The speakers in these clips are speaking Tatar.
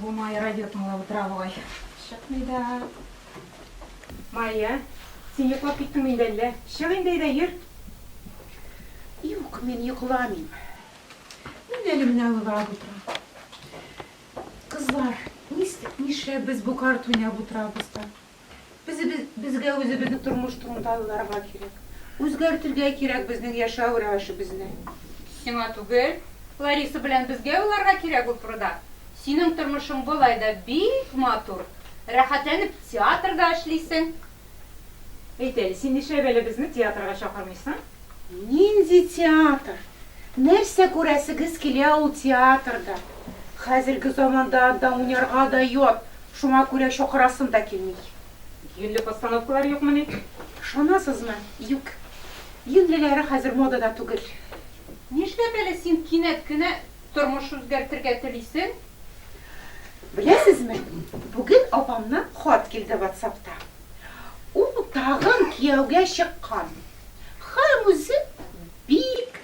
Бу Майя радио тыңлап утыра бугай. Чыкмый да. Майя, син йоклап киттеңме инде әллә? Чык инде әйдә, йөр. Юк, мин йокламыйм. Мин әле менә уйлап утырам. Кызлар, нистик, нишләп без бу карта уйнап утырабыз да? Безебез, безгә үзебезне тормыш турында уйларга кирәк. Үзгәртергә кирәк безнең яшәү рәвешебезне. Сиңа түгел, Лариса белән безгә уйларга кирәк ул турыда. Синең тормышың болай да бик матур. Рәхәтләнеп театрда эшлисең. Әйт әле, син нишләп әле безне театрга чакырмыйсың? Нинди театр? Нәрсә күрәсегез килә ул театрда? Хәзерге заманда анда уйнарга да ят, шуңа күрә чакырасым да килми. Юньле постановкалар юкмыни? Ышанасызмы, юк. Юньлеләре хәзер модада түгел. Нишләп әле син кинәт кенә тормыш үзгәртергә телисең? Беләсезме, бүген апамнан хат килде ватсапта. Ул тагын кияүгә чыккан хәм үзе бик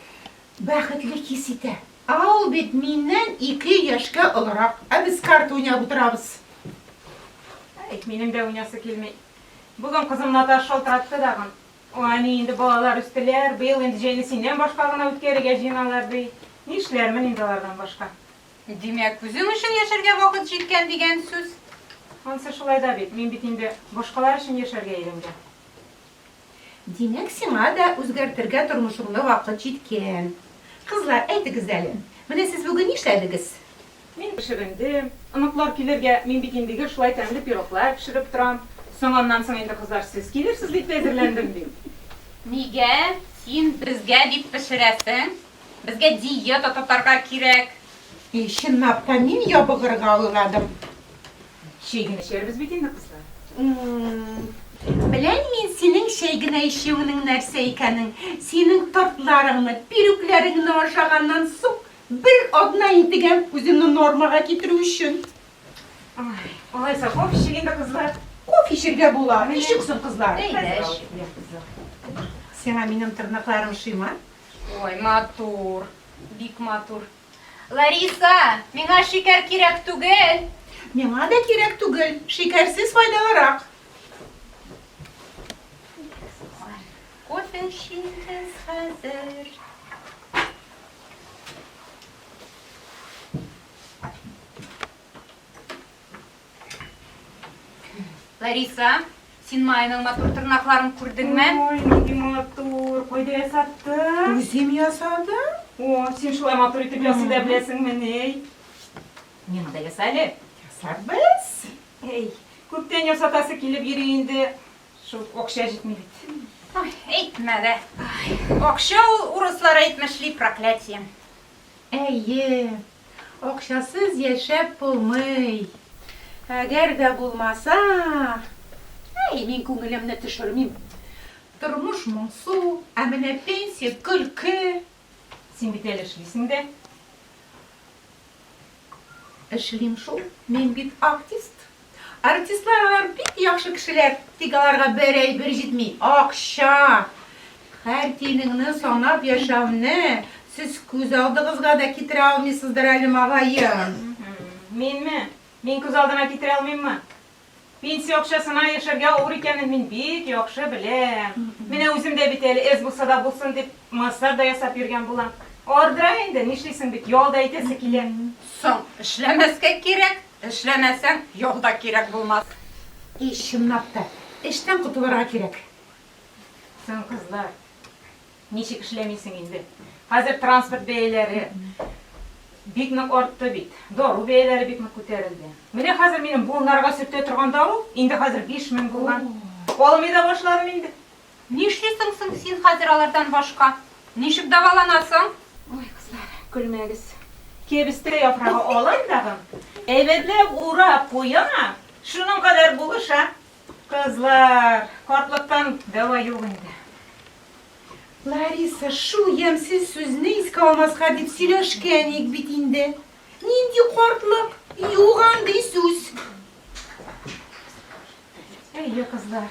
бәхетле хис итә. Ә ул бит миннән ике яшькә олырак. Ә без карта уйнап утырабыз. Әй, минем дә уйнасы килми. Бүгін кызым Наташ шалтыратты тагын. О, әни, инде балалар үстеләр, быел инде җәйне синнән башка гына үткәрергә җыеналар, ди. Нишләрмен инде алардан башка. Димәк, үзең өчен яшәргә вакыт җиткән дигән сүз? Ансы шулай да бит, мин бит инде башкалар өчен яшәргә өйрәнгән. Димәк, сиңа да үзгәртергә тормышыңны вакыт җиткән. Кызлар, әйтегез әле, менә сез бүген нишләдегез? Мин пешерендем. Оныклар килергә, мин бит инде гел шулай тәмле пироглар пешереп торам. Соң аннан соң инде кызлар сез килерсез дип тә әзерләндем, дим. Нигә син безгә дип пешерәсең? Безгә диета тотарга кирәк. И, чынлап та, мин ябыгырга уйладым. Чәй генә эчәрбез бит инде, кызлар. М-м-м. Беләм мин синең чәй генә эчүеңнең нәрсә икәнен. Синең тортларыңны, пирүкләреңне ашаганнан соң, бер атна интегәм үземне нормага китерү өчен. Ай, алайса, кофе эчик инде, кызлар. Кофе эчәргә була. Ничек соң, кызлар? Әйдә, эч. Сиңа минем тырнакларым ошыймы? Ой, матур, бик матур. Лариса, миңа шикәр кирәк түгел. Миңа да кирәк түгел, шикәрсез файдалырак. Кофе эчегез хәзер. Лариса, син Майның матур тырнакларын күрдеңме? Ой, нинди матур. Кайда ясаттың? Үзем ясадым. О, син шулай матур итеп ясый да беләсеңме, ней? Миңа да яса әле. Ясарбыз. Әй, күптән ясатасы килеп йөри инде. Шул акча җитми бит. Ой, әйтмә дә. Акча ул урыслар әйтмешли проклятие. Әйе, акчасыз яшәп булмый. Әгәр дә булмаса, әй, мин күңелемне төшермим. Тормыш моңсу, ә менә пенсия, көлке. Син бит әле эшлисең дә. Эшлим шул, мин бит артист. Артистлар алар бик яхшы кешеләр, тик аларга бер әйбер җитми, акча! Хәр тиенеңне санап яшәүне сез күз алдыгызга да китерә алмыйсыздыр әле магаен. Минме? Мин күз алдына китерә алмыйммы? Пенсия акчасына яшәргә авыр икәнен мин бик яхшы беләм. Менә үзем дә бит әле эз булса да булсын дип массаж да ясап йөргән булам. Ардыра инде, нишлисең бит, ял да итәсе килә. Соң, эшләмәскә кирәк. Эшләмәсәң, ял да кирәк булмас. И, чынлап та, эштән котылырга кирәк. Сын, кызлар, ничек эшләмисең инде? Хәзер транспорт бәяләре бик нык артты бит. Дару бәяләре бик нык күтәрелде. Менә хәзер минем буыннарга сөртә торган дару инде хәзер биш мең булган. Алмый да башладым инде. Нишлисең соң син хәзер алардан башка? Ничек дәваланасың? Ой, кызлар, көлмәгез. Кәбестә яфрагы алам тагын, әйбәтләп урап куям, шуның кадәр булыша. Кызлар, картлыктан дәва юк инде. Лариса, шул ямьсез сүзне искә алмаска дип сөйләшкән идек бит инде. Нинди картлык? Юк андый сүз. Әйе, кызлар.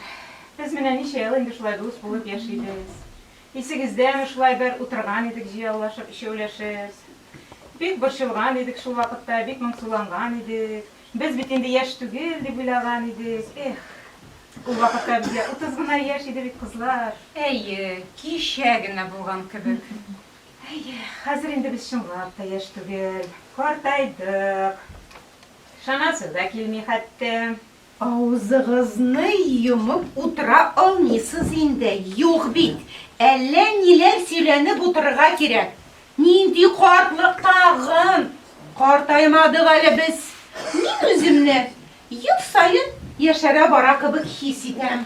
Без менә ничә ел инде шулай дус булып яшибез. Исегездәме, шулай бер утырган идек җыяулашып, өчәүләшеп. Бик борчылган идек шул вакытта, бик моңсуланган идек. Без бит инде яшь түгел дип уйлаган идек. Эх! Ул вакытта безгә утыз гына яшь иде бит, кызлар. Әйе, кичә генә булган кебек. Әйе, хәзер инде без чынлап та яшь түгел, картайдык. Ышанасы да килми хәтта. Авызыгызны йомып утыра алмыйсыз инде, юк бит, әллә ниләр сөйләнеп утырырга кирәк. Нинди картлык тагын? Картаймадык әле без. Мин үземне ел саен яшәрә бара кебек хис итәм.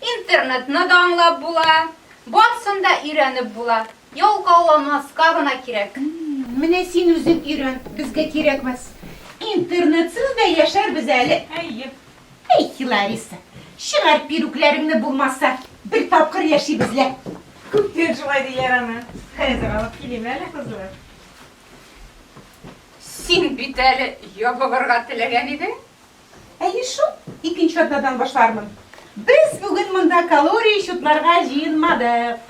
Интернетны да аңлап була, барсын да өйрәнеп була, ялкауламаска гына кирәк. Менә син үзең өйрән, безгә кирәкмәс. Интернетсыз да яшәрбез әле. Әйе. Әй, Лариса, чыгар пирүкләреңне булмаса, бер тапкыр яшибез лә. Күптән шулай диләр аны. Хәзер алып килим әле, кызлар. Син бит әле ябыгырга теләгән идең. Әйе шул, икенче атнадан башлармын. Без бүген монда калория счетларга җыенмадык.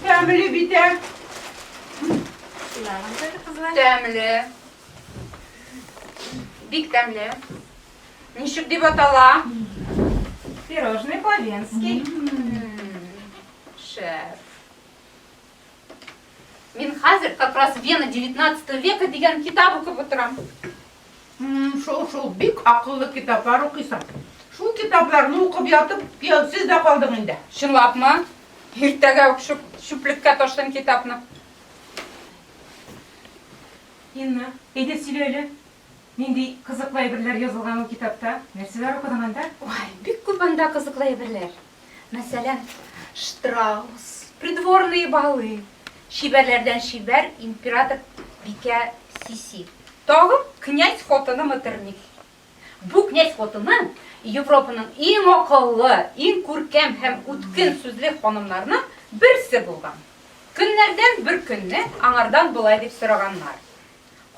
Тәмле бит, ә? Тәмле. Бик тәмле. Ничек дип атала? Пирожный по-венски. Шеф. Мин хәзер как раз Вена 19 века дигән китап укып утырам. Шул, шул, бик акыллы китаплар укыйсың. Шул китапларны укып ятып, кияүсез дә калдың инде. Чынлапмы? Иртәгә үк шуп, шуплеккә ташлыйм китапны. Инна, әйдә сөйлә әле. Нинди кызыклы әйберләр язылган ул китапта? Нәрсәләр укыдың анда? Уай, бик күп анда кызыклы әйберләр. Мәсәлән, штраус, придворные балы, чибәрләрдән чибәр император бикә Сиси. Тагын князь хатыны Метерниф. Бу князь хатыны Европаның иң акыллы, иң күркәм һәм үткен сүзле ханымнарның берсе булган. Көннәрдән бер көнне аңардан болай дип сораганнар,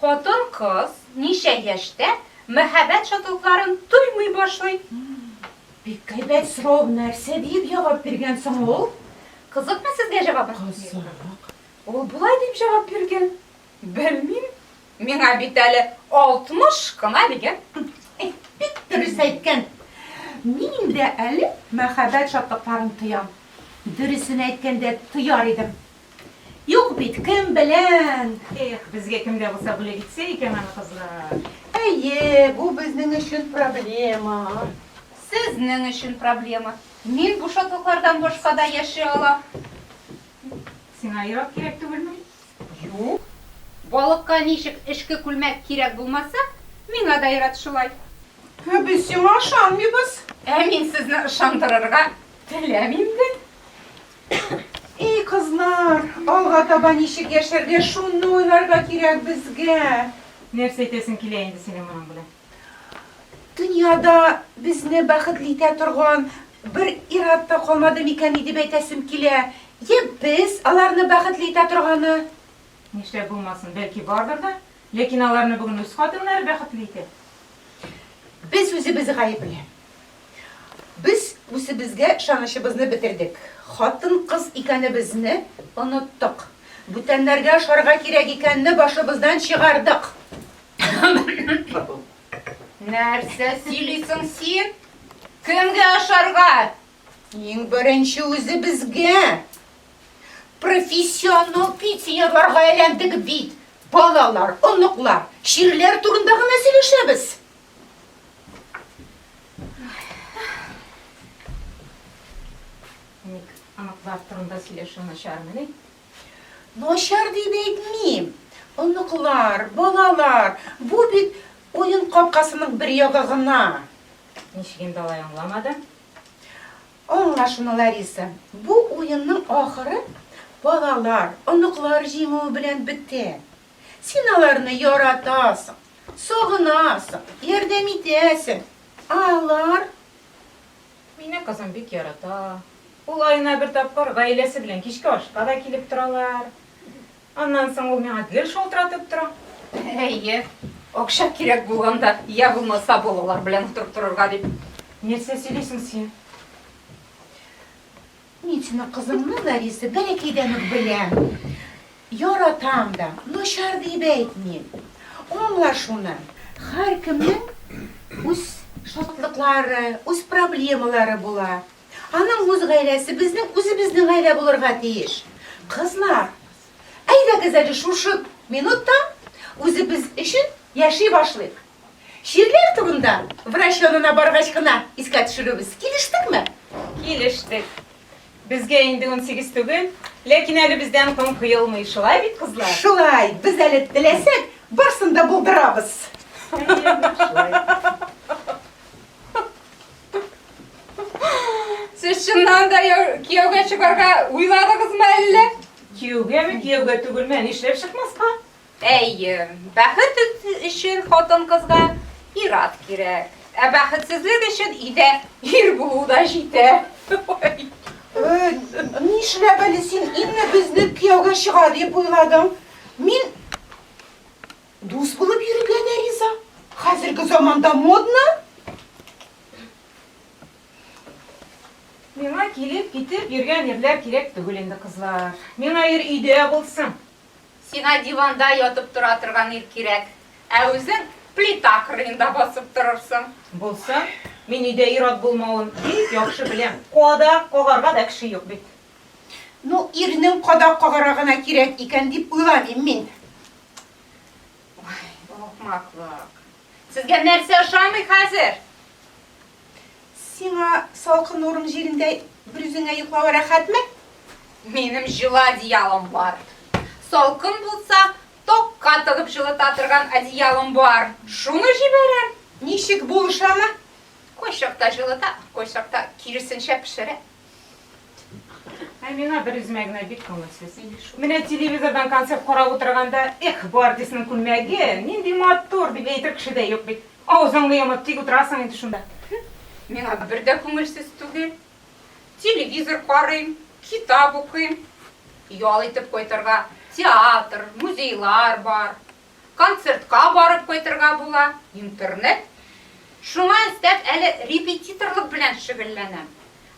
Хатын-кыз ничә яшьтә мәхәббәт шатлыкларын тоймый башлый? Бик әйбәт сорау, нәрсә диеп җавап биргән соң ул? Кызыкмы сезгә җавабы? Кызык. Ул болай дип җавап биргән, Белмим, миңа бит әле 60 кына, дигән. Бик дөрес әйткән. Мин дә әле мәхәббәт шатлыкларын тоям. Дөресен әйткәндә, тояр идем. Юк бит, кем белән! Эх, безгә кемгә булса бүләк итсә икән аны кызлар! Әйе, бу безнең өчен проблема. Сезнең өчен проблема. Мин бу шатлыклардан башка да яши алам. Сиңа ерак кирәк түгелме? Юк. Балыкка ничек эчке күлмәк кирәк булмаса, миңа да ерат шулай. Ә без сиңа ышанмыйбыз. Ә мин сезне ышандырырга теләмим дә. И кызлар, алга таба ничек яшәргә, шуны уйларга кирәк безгә. Нәрсә әйтәсең килә инде синең моның белән? Дөньяда безне бәхетле итә торган бер ир-ат та калмады микәни дип әйтәсем килә. Йә без аларны бәхетле итә торганы. Нишләп булмасын, бәлки бардыр да. Ләкин аларны бүген үз хатыннары бәхетле итә. Без үзебез гаепле. Без үзебезгә ышанычыбызны бетердек, хатын-кыз икәнебезне оныттык, бүтәннәргә ошарга кирәк икәнне башыбыздан чыгардык. Нәрсә сөйлисең син? Кемгә ошарга? Иң беренче үзебезгә! Профессионал пенсионерларга әйләндек бит! Балалар, оныклар, чирләр турында гына сөйләшәбез. Ник аныклар турында сөйләшү начармыни? Начар дип әйтмим. Оныклар, балалар, бу бит уен капкасының бер ягы гына. Ничек инде алай аңламады? Аңла шуны, Лариса. Бу уенның ахыры балалар, оныклар җиңүе белән бетә. Син аларны яратасың, сагынасың, ярдәм итәсең. Ә алар? Мине кызым бик ярата. Ул аена бер тапкыр гаиләсе белән кичке ашка да килеп торалар. Аннан соң ул миңа гел шалтыратып тора. Әйе, акча кирәк булганда, я булмаса балалар белән утырып торырга дип. Нәрсә сөйлисең син? Мин сине кызымның Лариса бәләкәйдән үк беләм, яратам да, начар диеп әйтмим. Аңла шуны, һәркемнең үз шатлыклары, үз проблемалары була. Аның үз гаиләсе, безнең үзебезнең гаилә булырга тиеш. Кызлар, әйдәгез әле шушы минутта үзебез өчен яши башлыйк. Чирләр турында врач янына баргач кына искә төшерербез. Килештекме? Килештек. Безгә инде унсигез түгел, ләкин әле бездән ком коелмый. Шулай бит, кызлар? Шулай. Без әле теләсәк, барсын да булдырабыз. Сез чыннан да кияүгә чыгарга уйладыгызмы әллә? Кияүгәме, кияүгә түгелме, нишләп чыкмаска? Әйе, бәхет өчен хатын-кызга ир-ат кирәк. Ә бәхетсезлек өчен өйдә ир булу да җитә. Нишләп әле син инде безне кияүгә чыга дип уйладың? Мин дус булып йөрергә дә риза. Хәзерге заманда модно. Миңа килеп-китеп йөргән ирләр кирәк түгел инде, кызлар. Миңа ир өйдә булсын. Сиңа диванда ятып тора торган ир кирәк, ә үзең плита кырыенда басып торырсың. Булсын, мин өйдә ир-ат булмавын бик яхшы беләм, кадак кагарга да кеше юк бит. Ну, ирнең кадак кагарга гына кирәк икән дип уйламыйм мин. Ой, бу ахмаклык. Сезгә нәрсә ошамый хәзер? Сиңа салкын урын җирендә бер үзеңә йоклавы рәхәтме? Минем җылы одеялым бар. Салкын булса, токка тыгып җылыта торган одеялым бар. Шуны җибәрәм. Ничек булышамы? Кайчакта җылыта, кайчакта киресенчә пешерә. Ә миңа бер үземә генә бик күңелсез. Менә телевизордан концерт карап утырганда, эх, бу артистның күлмәге, нинди матур, дип әйтер кеше дә юк бит. Авызыңны йомып тик утырасың инде шунда. Миңа бер дә күңелсез түгел. Телевизор карыйм, китап укыйм. Ял итеп кайтырга театр, музейлар бар. концертка барып кайтырга була, интернет. Шуңа өстәп әле репетиторлык белән шөгыльләнәм.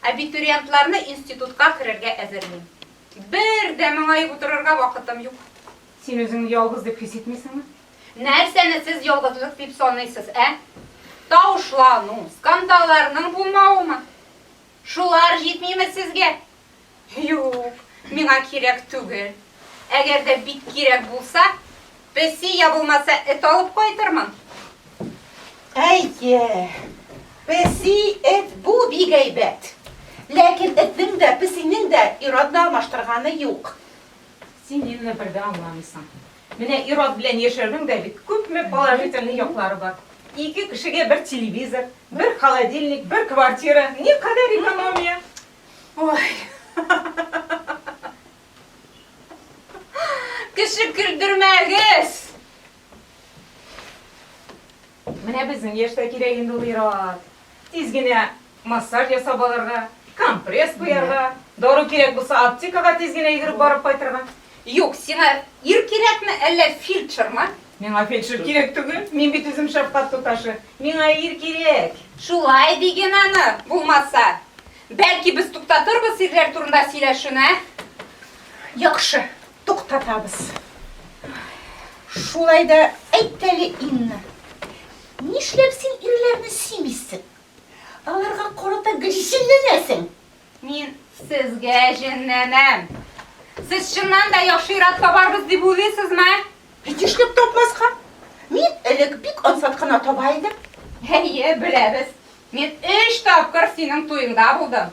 Абитуриентларны институтка керергә әзерлим. Бер дә моңаеп утырырга вакытым юк. Син үзеңне ялгыз дип хис итмисеңме? Нәрсәне сез ялгызлык дип саныйсыз, ә? Тавышлану, скандалларның булмавымы? Шулар җитмиме сезгә? Юк, миңа кирәк түгел. Әгәр дә бик кирәк булса, песи я булмаса эт алып кайтырмын. Әйе, песи, эт бу бик әйбәт. Ләкин этнең дә, песинең дә ир-атны алмаштырганы юк. Син мине бер дә аңламыйсың. Менә ир-ат белән яшәүнең дә бит күпме положительный яклары бар. Ике кешегә бер телевизор, бер холодильник, бер квартира, никадәр экономия! Ой. Кеше көлдермәгез. Менә безнең яшьтә кирәк инде ул ир-ат. Тиз генә массаж ясап алырга, компресс куярга, дару кирәк булса аптекага тиз генә йөгереп барып кайтырга. Юк, сиңа ир кирәкме, әллә фельдшермы? Миңа фельдшер кирәк түгел, мин бит үзем шәфкать туташы. Миңа ир кирәк! Шулай ди ген аны, булмаса. Бәлки без туктатырбыз ирләр турында сөйләшүне, ә? Яхшы, туктатабыз. Шулай да әйт әле, Инна, нишләп син ирләрне сөймисең? Аларга карата гризинләнәсең? Мин сезгә җенләнәм. Сез чыннан да яхшыйрак табарбыз дип уйлыйсызмы? Бит эшләп тапмаска. Мин элек бик ансат кына таба идем. Әйе, беләбез. Мин өч тапкыр синең туеңда булдым.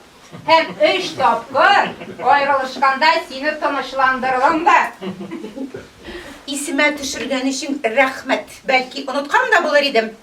Һәм өч тапкыр аерылышканда сине тынычландырдым да. Исемә төшергән өчен рәхмәт. Бәлки оныткан да булыр идем.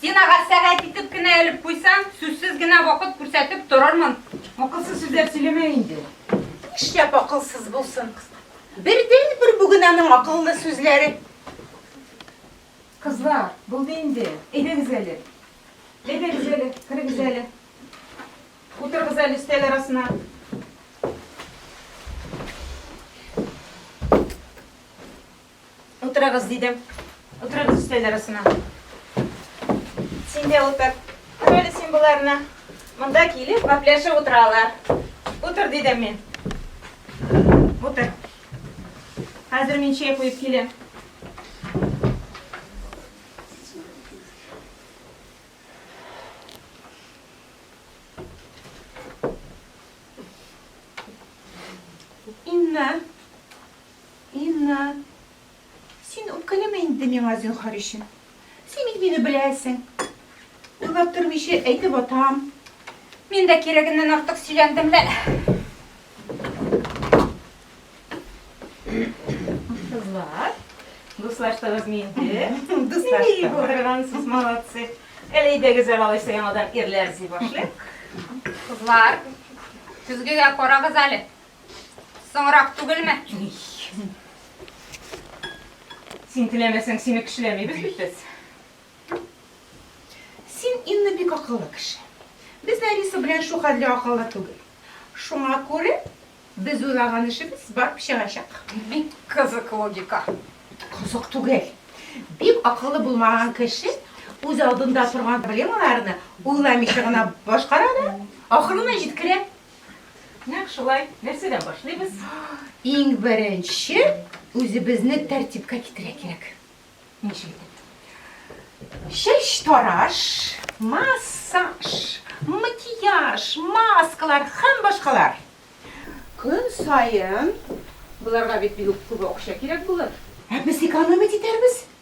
Стенага сәгать итеп кенә элеп куйсаң, сүзсез генә вакыт күрсәтеп торырмын. Акылсыз сүзләр сөйләмә инде. Шәп акылсыз булсын. Бердәнбер бүген аның акыллы сүзләре. Кызлар, булды инде. Әйдәгез әле. Әйдәгез әле, керегез әле. Утырыгыз әле өстәл арасына. Утырыгыз, дидем. Утырыгыз өстәл арасына. Син дә утыр. Көр әле син боларны. Монда килеп, гәпләшеп утыралар. Утыр, дидем мин. Утыр. Хәзер мин чәй куеп киләм. Инна, Инна. Син үпкәләмә инде миңа зинһар өчен. Син бит мине беләсең. Уйлап тормыйча әйтеп атам. Мин дә кирәгеннән артык сөйләндем лә. Кызлар, дуслаштыгыз инде. Дуслаштык. Баргансыз, молодцы. Әле идегез алайса яңадан ирләр зи башлыйк. Кызлар, көзгегә карагыз әле. Соңрак түгелме? Син теләмәсәң, сине кешеләмибез бит без. Син инне бик акыллы кеше. Без Лариса белән шу хәтле акыллы түгел. Шуңа күрә без уйлаган эшебез барып чыгачак. Бик кызык логика. Кызык түгел. Бик акыллы булмаган кеше үз алдында торган проблемаларны уйламыйча гына башкара да, ахырына җиткерә. Нәкъ шулай. Нәрсәдән башлыйбыз? Иң беренче үзебезне тәртипкә китерә кирәк. Ничек итеп? Чәч тараш, массаж, макияж, маскалар һәм башкалар. Көн саен боларга бит бигүк күп акча кирәк булыр. Ә без экономить итәрбез.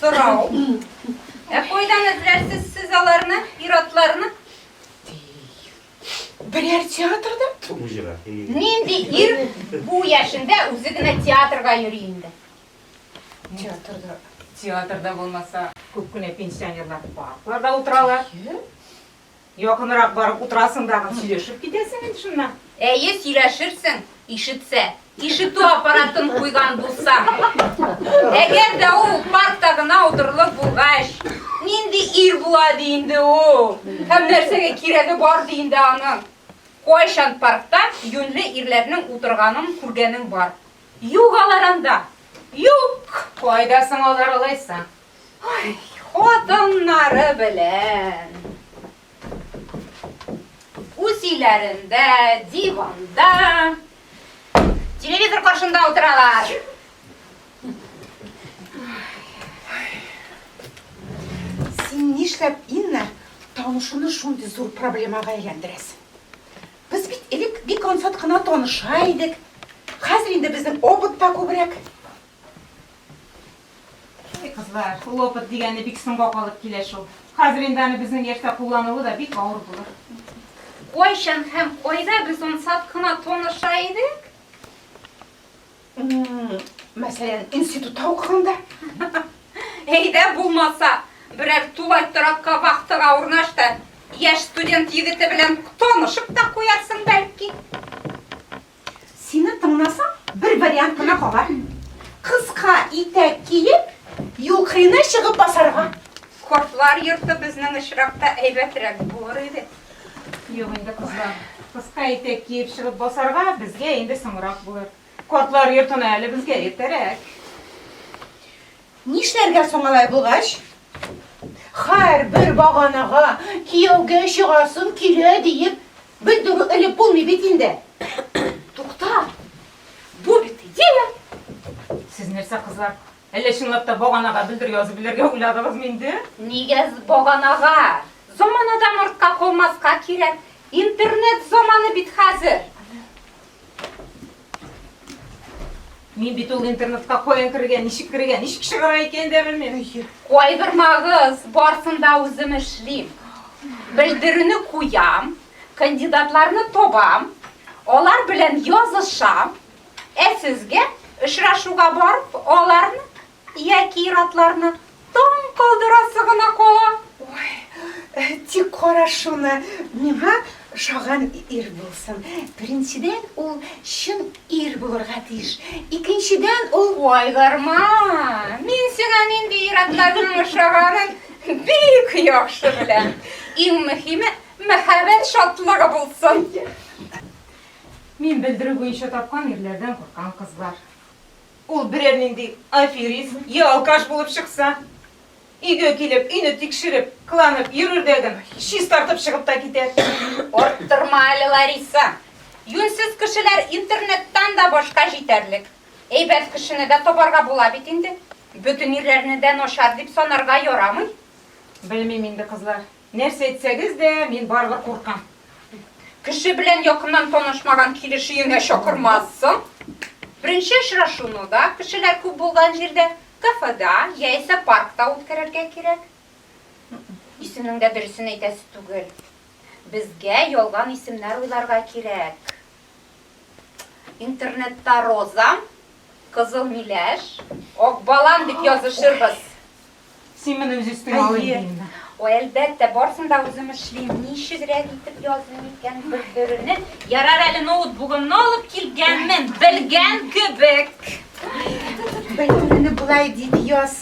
Сорау. Ә кайдан эзләрсез сез аларны, ир-атларны? Берәр театрда? Нинди ир бу яшендә үзе генә театрга йөри инде? Театрда. Театрда булмаса, күп кенә пенсионерлар паркларда утыралар. Якынрак барып утырасың дагы, сөйләшеп китәсең инде шуннан. Әйе, сөйләшерсең, ишетсә. Ишетү аппаратын куйган булсаң. Әгәр дә ул паркта гына утырылып булгач, нинди ир була ди инде ул? Һәм нәрсәгә кирәге бар ди инде аның? Кайчан паркта юньле ирләрнең утырганын күргәнең бар? Юк алар анда. Юк! Кайда соң алар алайса? Ай, хатыннары белән. Үз өйләрендә, диванда, телевизор каршында утыралар. Син нишләп, Инна, танышуны шундый зур проблемага әйләндерәсең? Без бит элек бик ансат кына таныша идек. Хәзер инде безнең опыт та күбрәк. Кызлар, лопат дигәне бик соңга калып килә шул. Хәзер инде аны безнең яшьтә куллануы да бик авыр булыр. Кайчан һәм кайда без ансат кына таныша идек? Мәсәлән, институтта укыганда. Әйдә булмаса, берәр тулай торакка вахтага урнаш та, яшь студент егете белән танышып та куярсың, бәлки. Сине тыңнасам, бер вариант кына кала. Кыска итәк киеп, юкрина чыгып басарга. Кортлар йорты безнең очракта әйбәтрәк булыр иде. Юк инде, кызлар. Кыска итәк киеп чыгып басарга безгә инде соңрак булыр. Кортлар йортына әле безгә иртәрәк. Нишләргә соң алай булгач? Һәрбер баганага кияүгә чыгасым килә диеп, Бер дөрү элеп булмый бит инде. Тукта. Бу бит идея. Сез нәрсә, кызлар? Әллә чынлап та баганага белдер язып белергә уйладыгызмы инде? Нигә баганага? Заманадан артка калмаска кирәк. Интернет заманы бит хәзер. Мин бит ул интернетка каян керергә, ничек керергә, ничек чыгарга икәнен дә белмим. Кайгырмагыз, барсын да үзем эшлим. Белдерүне куям, кандидатларны табам, алар белән язышам, ә сезгә очрашуга барып, аларны Яки ир-атларны таң калдырасы гына кала? Ой, тик кара шуны, миңа ошаган ир булсын. Беренчедән, ул чын ир булырга тиеш. Икенчедән, ул. Вай, Гарма, мин сиңа нинди ир-атларның ошаганын бик яхшы беләм. Иң мөһиме, мәхәббәт шатлыгы булсын. Мин белдерү буенча тапкан ирләрдән куркам, кызлар. Ул берәр нинди аферист йә алкаш булып чыкса, өйгә килеп, өйне тикшереп, кыланып йөрер дә гел чистартып чыгып та китәр. Арттырма әле, Лариса. Юньсез кешеләр интернеттан да башка җитәрлек. Әйбәт кешене дә табарга була бит инде. Бөтен ирләрне дә начар дип санарга ярамый. Белмим инде, кызлар. Нәрсә әйтсәгез дә, мин барыбер куркам. Кеше белән якыннан танышмаган килеш өеңә чакырмассың. Беренче очрашуны да кешеләр күп булган җирдә, кафеда яисә паркта үткәрергә кирәк. Исемнең дә дөресен әйтәсе түгел. Безгә ялган исемнәр уйларга кирәк. Интернетта Розам, Кызыл миләш, Акбалам дип язышырбыз. Син моны үз өстеңә алыйм димме? Ой, әлбәттә, барсын да үзем эшлим. Ничегрәк итеп языйм икән бер төренә? Ярар әле ноутбугымны алып килгәнмен, белгән кебек. Бер төрене болай дип яз.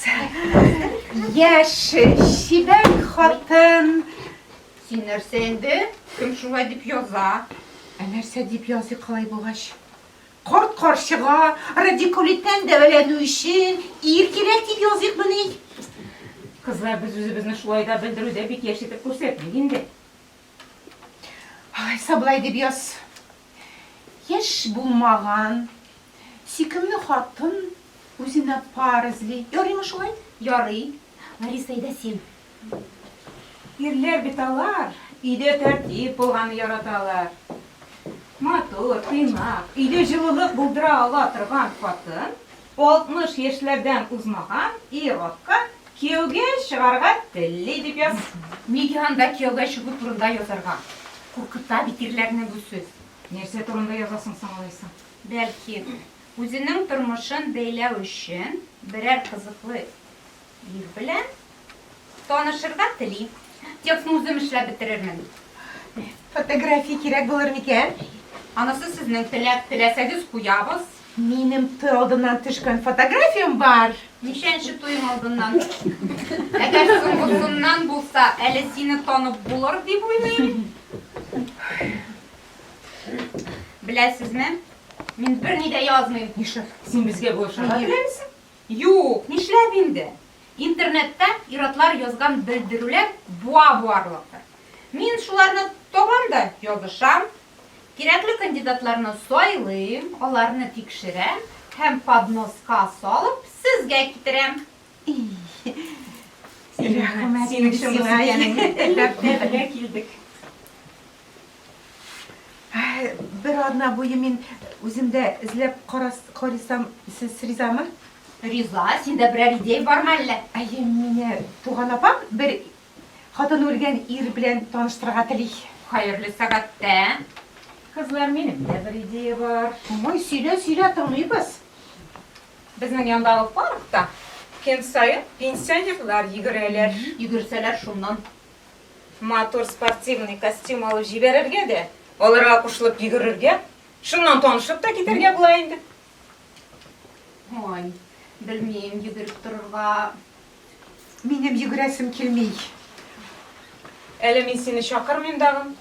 Яшь, чибәр хатын. Син нәрсә инде? Кем шулай дип яза? Ә нәрсә дип языйк алай булгач? Корт-карчыга, радикулиттан дәваләнү өчен ир кирәк дип языйк мени? Кызлар, без үзебезне шулай да белдерүдә бик яшь итеп күрсәтмик инде. Алайса болай дип яз. Яшь булмаган, сөйкемле хатын үзенә пар эзли. Ярыймы шулай? Ярый. Лариса, әйдә син. Ирләр бит алар, өйдә тәртип булганны яраталар. Матур, тыйнак, өйдә җылылык булдыра ала торган хатын 60 яшьләрдән узмаган ир-атка кияүгә чыгарга телли, дип яз. Нигә анда кияүгә чыгу турында язарга? Куркыта бит ирләрне бу сүз. Нәрсә турында язасың соң алайса? Бәлки, үзенең тормышын бәйләү өчен берәр кызыклы Ир белән танышырга тели. Текстны үзем эшләп бетерермен. Фотография кирәк булыр микән? Анысы сезнең теләк, теләсәгез куябыз. Минем той алдыннан төшкән фотографиям бар. Ничәнче туең алдыннан? Әгәр соңгысыннан булса, әле сине танып булыр дип уйлыйм. Беләсезме, мин берни дә язмыйм. Нишләп? Син безгә булышырга теләмисең? Юк, нишләп инде? Интернетта ир-атлар язган белдерүләр буа-буарлыктыр. Мин шуларны табам да язышам. Кирәкле кандидатларны сайлыйм, аларны тикшерәм һәм подноска салып сезгә китерәм. Рәхмәт, синең чын икәнеңне эзләп тә белә килдек. Бер атна буе мин үземдә эзләп карасам, сез ризамы? Риза, синдә берәр идея бармы әллә? Әйе, мине туган апам бер хатыны үлгән ир белән таныштырырга тели. Хәерле сәгатьтә. Кызлар, минем дә бер идея бар. Мамай, сөйлә, сөйлә, тыңлыйбыз. Безнең яндагы паркта көн саен пенсионерлар йөгерәләр. Йөгерсәләр, шуннан Матур спортивный костюм алып җибәрергә дә, аларга кушылып йөгерергә, шуннан танышып та китәргә була инде. Ой, белмим, йөгереп торырга минем йөгерәсем килми. Әле мин сине чакырмыйм дагы.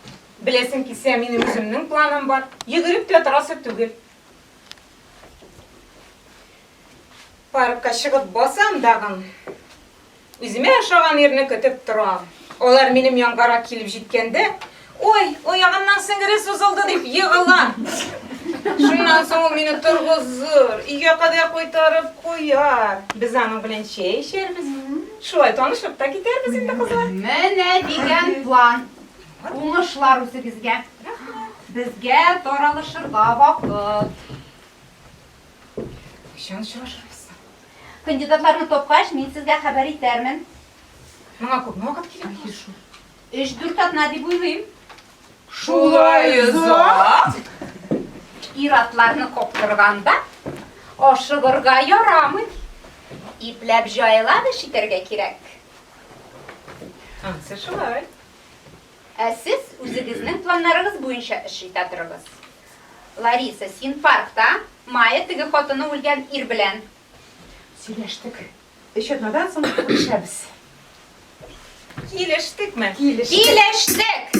Беләсең килсә, минем үземнең планым бар. Йөгереп тә торасы түгел. Паркка чыгып басам дагы, Үземә ошаган ирне көтеп торам. Алар минем янгарак килеп җиткәндә, Ой, оягымның сеңгере сузылды дип егыла. Шуннан соң ул мине торгызыр, өйгә кадәр кайтарып куяр. Без аның белән чәй эчәрбез. Шулай танышып та китәрбез инде, кызлар. Менә дигән план. Уңышлар үзегезгә. Безгә таралышырга вакыт. Кайчан очрашырбыз соң? Кандидатларны тапкач, мин сезгә хәбәр итәрмен. Моңа күпме вакыт кирәк? Әйе шул. Өч-дүрт атна дип уйлыйм. Шулай озак? Ир-атларны коптырганда ашыгырга ярамый. Ипләп җайлап эш итәргә кирәк. Ансы шулай. Ә сез үзегезнең планнарыгыз буенча эш итә торыгыз. Лариса, син паркта Мая теге хатыны үлгән ир белән. Сөйләштек. Өч атнадан соң күрешәбез. Килештекме? Килештек. Килештек!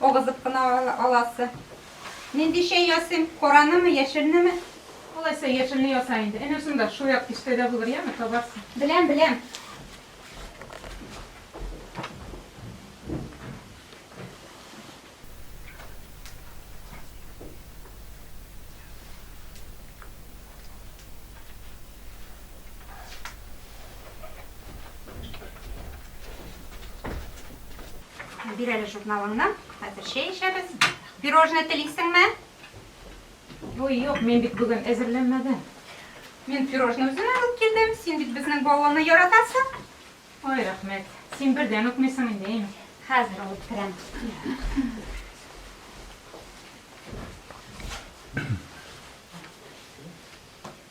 Агызып кына аласы. Нинди чәй ясыйм? Каранымы, яшелнеме? Алайса, яшелне яса инде. Әнә шунда, шул як киштәдә булыр, яме, табарсың. Беләм, беләм. Бир әле журналыңны. Хәзер чәй эчәбез. Пирожное телисеңме? Ой, юк, мин бит бүген әзерләнмәдем. Мин пирожное үзем алып килдем. Син бит безнең балланы яратасың. Ой, рәхмәт. Син бердән үкмисең инде, әйме? Хәзер алып керәм.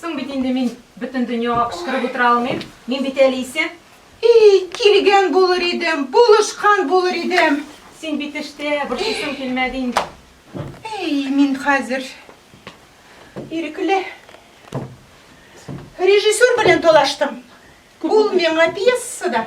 Соң бит инде мин бөтен дөньяга кычкырып утыра алмыйм. Мин бит әле исән. Ий, килгән булыр идем, булышкан булыр идем. Син бит эштә, борчысым килмәде инде. Ий, мин хәзер ирекле. Режиссер белән талаштым. Ул миңа пьесада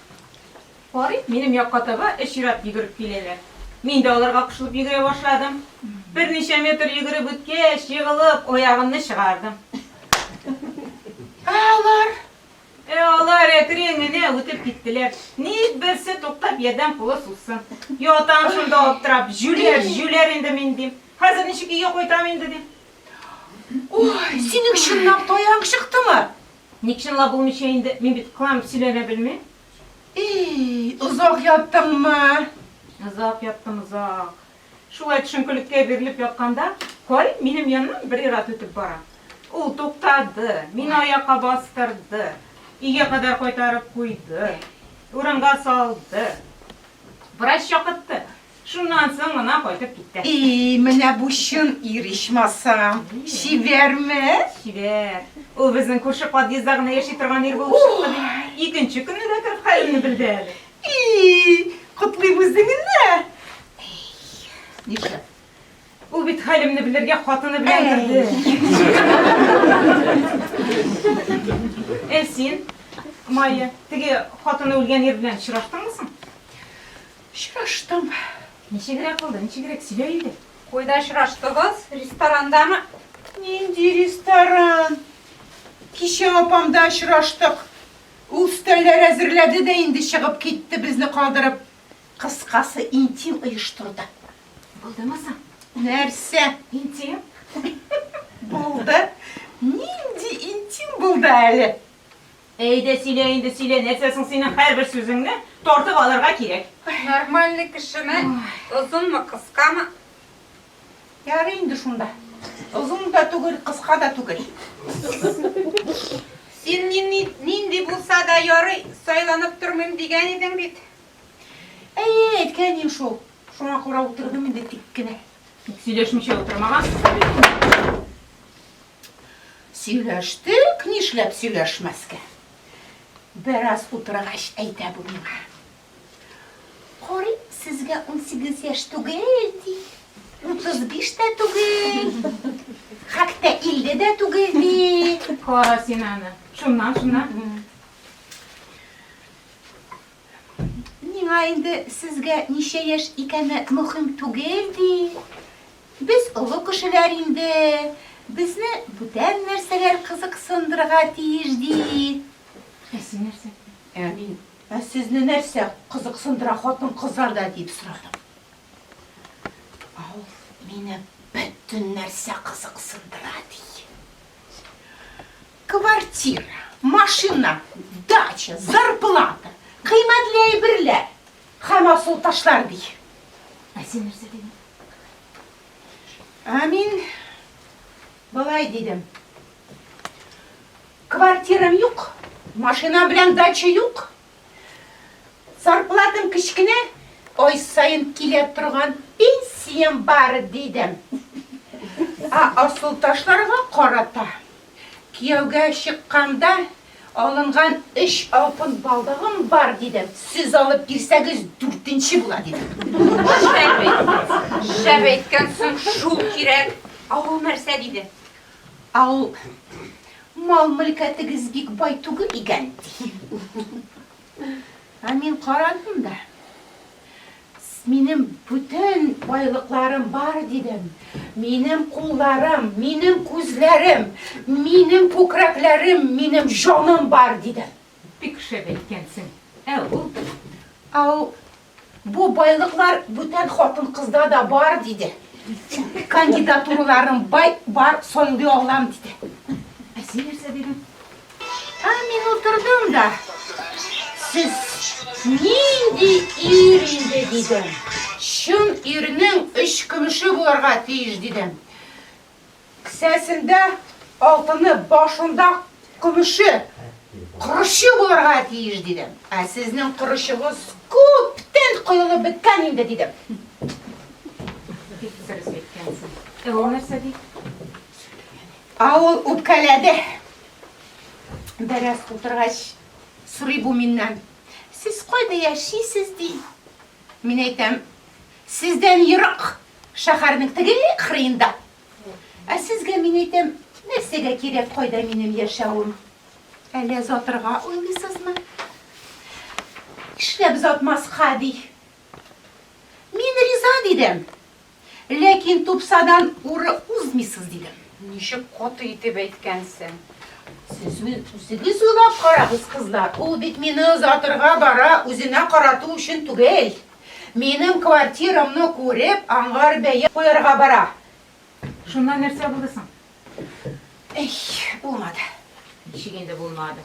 Карыйм, минем якка таба өчрәп йөгереп киләләр. Мин дә аларга кушылып йөгерә башладым. Берничә метр йөгереп үткәч, егылып, аягымны чыгардым. Ә алар? Ә алар әкрен генә үтеп киттеләр. Ник берсе туктап ярдәм кулы сузсын. Ятам шунда аптырап, җүләр, җүләр инде мин, дим. Хәзер ничек өйгә кайтам инде, дим. Ой, синең чынлап та аяк чыктымы? Ник чынлап булмыйча инде, мин бит кыланып сөйләнә белмим. Ий, озак яттыңмы? Озак яттым, озак. Шулай төшенкелеккә бирелеп ятканда, Карим минем яннан бер ир-ат үтеп бара. Ул туктады, мине аякка бастырды, өйгә кадәр кайтарып куйды, урынга салды. Врач чакыртты. Шуннан соң гына кайтып киткән. И, менә бу чын ир ичмасам. Чибәрме? Чибәр. Ул безнең күрше подъездда гына яши торган ир булып чыкты бит. Икенче көнне дә кереп хәлемне белде әле. И, котлыйм үзеңне. Нишләп? Ул бит хәлемне белергә хатыны белән керде. Ә син, Майя, теге хатыны үлгән ир белән очраштыңмы соң? Очраштым. Ничегрәк булды, ничегрәк? Сөйлә инде. Куйда очраштыгыз? Ресторандамы? Нинди ресторан? Кичә апамда очраштык. Ул өстәлләр әзерләде дә инде чыгып китте, безне калдырып. Кыскасы, интим оештырды. Булдымы соң? Нәрсә? Интим? Булды. Нинди интим булды әле? Әйдә, сөйлә инде, сөйлә, нәрсә соң синең һәрбер сүзеңне тартып алырга кирәк? Нормальный кешеме, озынмы, кыскамы? Ярый инде шунда. Озын да түгел, кыска да түгел. Син мине нинди булса да ярый, сайланып тормыйм дигән идең бит. Әйе, әйткән идем шул. Шуңа күрә утырдым инде тик кенә. Бик сөйләшмичә утырмагансыз әле. Сөйләштек, нишләп сөйләшмәскә. Бераз утыргач әйтә бу миңа. Карыйм, сезгә унсигез яшь түгел, ди. Утыз биш тә түгел. Хәтта илле дә түгел, ди. Кара син аны. Шуннан, шуннан. Миңа инде сезгә ничә яшь икәне мөһим түгел, ди. Без олы кешеләр инде, безне бүтән нәрсәләр кызыксындырырга тиеш, ди. Ә син нәрсә? Ә мин, Ә сезне нәрсә кызыксындыра, хатын-кызлар да? дип сорадым. Ә ул, Мине бөтен нәрсә кызыксындыра, ди. Квартира, машина, дача, зарплата, кыйммәтле әйберләр, Һәм асыл ташлар, ди. Ә син нәрсә дидең? Ә мин болай дидем. Квартирам юк, машина белән дача юк. Зарплатам кечкенә, ай саен килә торган пенсиям бар, дидем. Ә асыл ташларга карата Кияүгә чыкканда, алынган өч алтын балдагым бар, дидем. Сез алып бирсәгез, дүртенче була, диде. Шәп әйткәнсең, шәп әйткәнсең, шул кирәк. Ә ул нәрсә? диде. Ә ул, Мал-мөлкәтегез бик бай түгел икән, ди. Ә мин карадым да. Минем бүтән байлыкларым бар, дидем. Минем кулларым, минем күзләрем, минем күкрәкләрем, минем җаным бар, дидем. Бик шәп әйткәнсең. Ә ул? Ә ул, бу байлыклар бүтән хатын-кызда да бар, диде. Кандидатураларым бай, бар, сайлый алам, диде. Ә син нәрсә дидең? Ә мин утырдым да, сез нинди ир инде, дидем. Чын ирнең өч көмеше булырга тиеш, дидем. Кесәсендә алтыны, башында көмеше, корычы булырга тиеш, дидем. Ә сезнең корычыгыз күптән коелып беткән инде, дидем. Бик дөрес әйткәнсең. Ә ул нәрсә ди? Сөйләгән инде. Ә ул үпкәләде. Бераз утыргач, сорый бу миннән. Сез кайда яшисез, ди. Мин әйтәм, сездән ерак, шәһәрнең теге кырыенда. Ә сезгә мин әйтәм, нәрсәгә кирәк кайда минем яшәвем? Әллә затырга уйлыйсызмы? Эшләп затмаска, ди. Мин риза дидем. Ләкин тупсадан уры узмыйсыз, дидем. Ничек каты итеп әйткәнсең! Сез үзегез уйлап карагыз, кызлар, ул бит мине озатырга бара, үзенә карату өчен түгел. Минем квартирамны күреп, аңар бәя куярга бара. Шуннан нәрсә булды соң? Әй, булмады. Ничек инде булмады?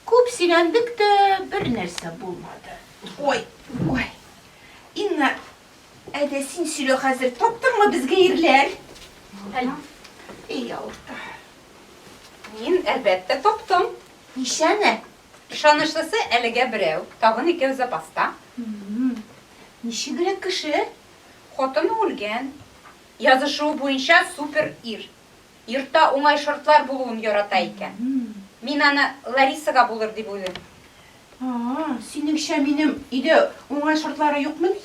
Күп сөйләндек тә, бернәрсә булмады. Ой, ой. Инна, Ә дә син сөйлә хәзер, таптыңмы безгә ирләр? Эй, авырта. Мин, әлбәттә, таптым. Ничәне? Ышанычлысы әлегә берәү, тагын икәү запаста. Ничегрәк кеше? Хатыны үлгән. Язышуы буенча супер ир. йортта уңай шартлар булуын ярата икән. Мин аны Ларисага булыр дип уйлыйм. А-а, синеңчә минем өйдә уңай шартлары юкмыни?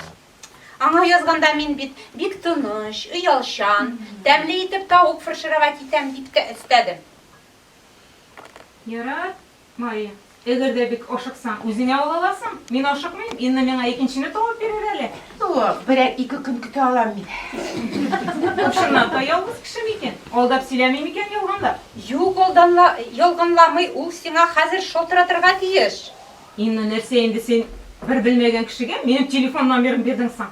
Аңа язганда мин бит бик тыныч, оялчан, тәмле итеп тавык фыршырырга китәм, дип тә өстәдем. Ярар. Мария. Эгер дә бик ашыксаң, үзеңә ала аласың. Мин ашыкмыйм, Инна миңа икенчене табып бирер әле. Тууы, берәр ике көн көтә алам мин. Бу чыннан та ялгыз кеше микән? Алдап сөйләми микән ялганлап? Юк, алданла, ялганламый, ул сиңа хәзер шалтыратырга тиеш. Инна, нәрсә инде син бер белмәгән кешегә минем телефон номерын бирдең соң?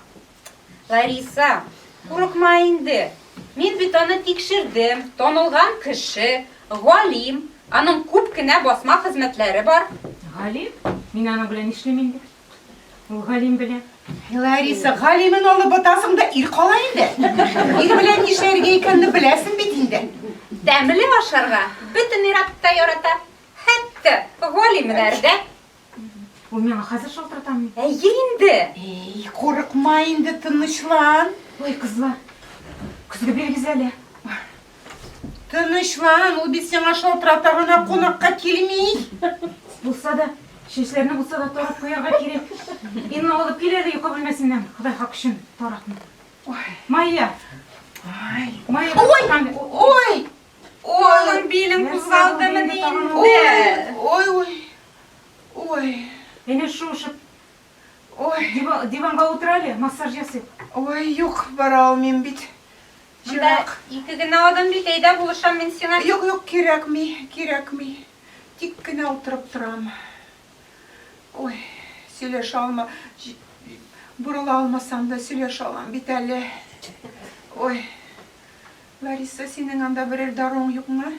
Лариса, курыкма инде. Мин бит аны тикшердем, танылган кеше, галим, аның күп кенә басма хезмәтләре бар. Галим? Мин аның белән нишлим инде? Ул галим белән. Лариса, галимен алып ботасың да ир кала инде. Ир белән нишләргә икәнне беләсең бит инде. Тәмле ашарга бөтен ир-ат та ярата. Хәтта галимнәр дә. Ул миңа хәзер шалтыратам. Әйе инде. Эй, курыкма инде, тынычлан. Ой, кызлар, көзге бирегез әле. Тынычлан, ул бит сиңа шалтырата гына кунакка килми. Булса да, чәчләрне булса да тарап куярга кирәк. Инна алып кил әле йокы бүлмәсеннән. Ходай хак өчен таракны. Майя. Ай, Майя. Ой, ой. Ой, билем кузгалдымы инде. Ой, ой. Ой. Әнә шушы Ой. Диванга утыр әле, массаж ясыйк. Ой, юк, бара алмыйм бит. Монда ике генә адым бит, әйдә булышам мин сиңа. Юк, юк, кирәкми, кирәкми. Тик кенә утырып торам. Ой, сөйләшә алма. Борыла алмасам да сөйләшә алам бит әле. Ой. Лариса, синең анда берәр даруың юкмы?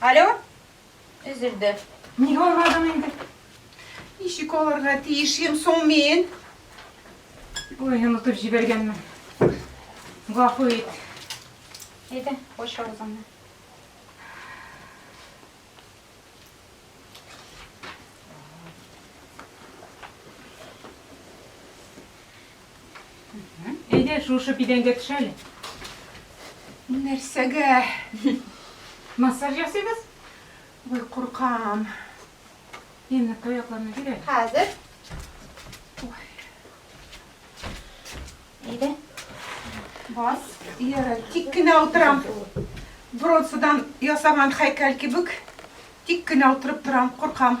Алло? Өзелде. Ник алмадың инде? Ничек алырга тиешем соң мин? Ой, онытып җибәргәнмен. Гафу ит. Әйдә, кош авызыңны. Әйдә, шушы бидәнгә төш әле. Нәрсәгә? Массаж ясыйбыз? Ой, куркам. Инне таякларны бир әле. Хәзер. Әйдә. Бас. Ярай, тик кенә утырам. Бронзадан ясаган хәйкәл кебек. Тик кенә утырып торам, куркам.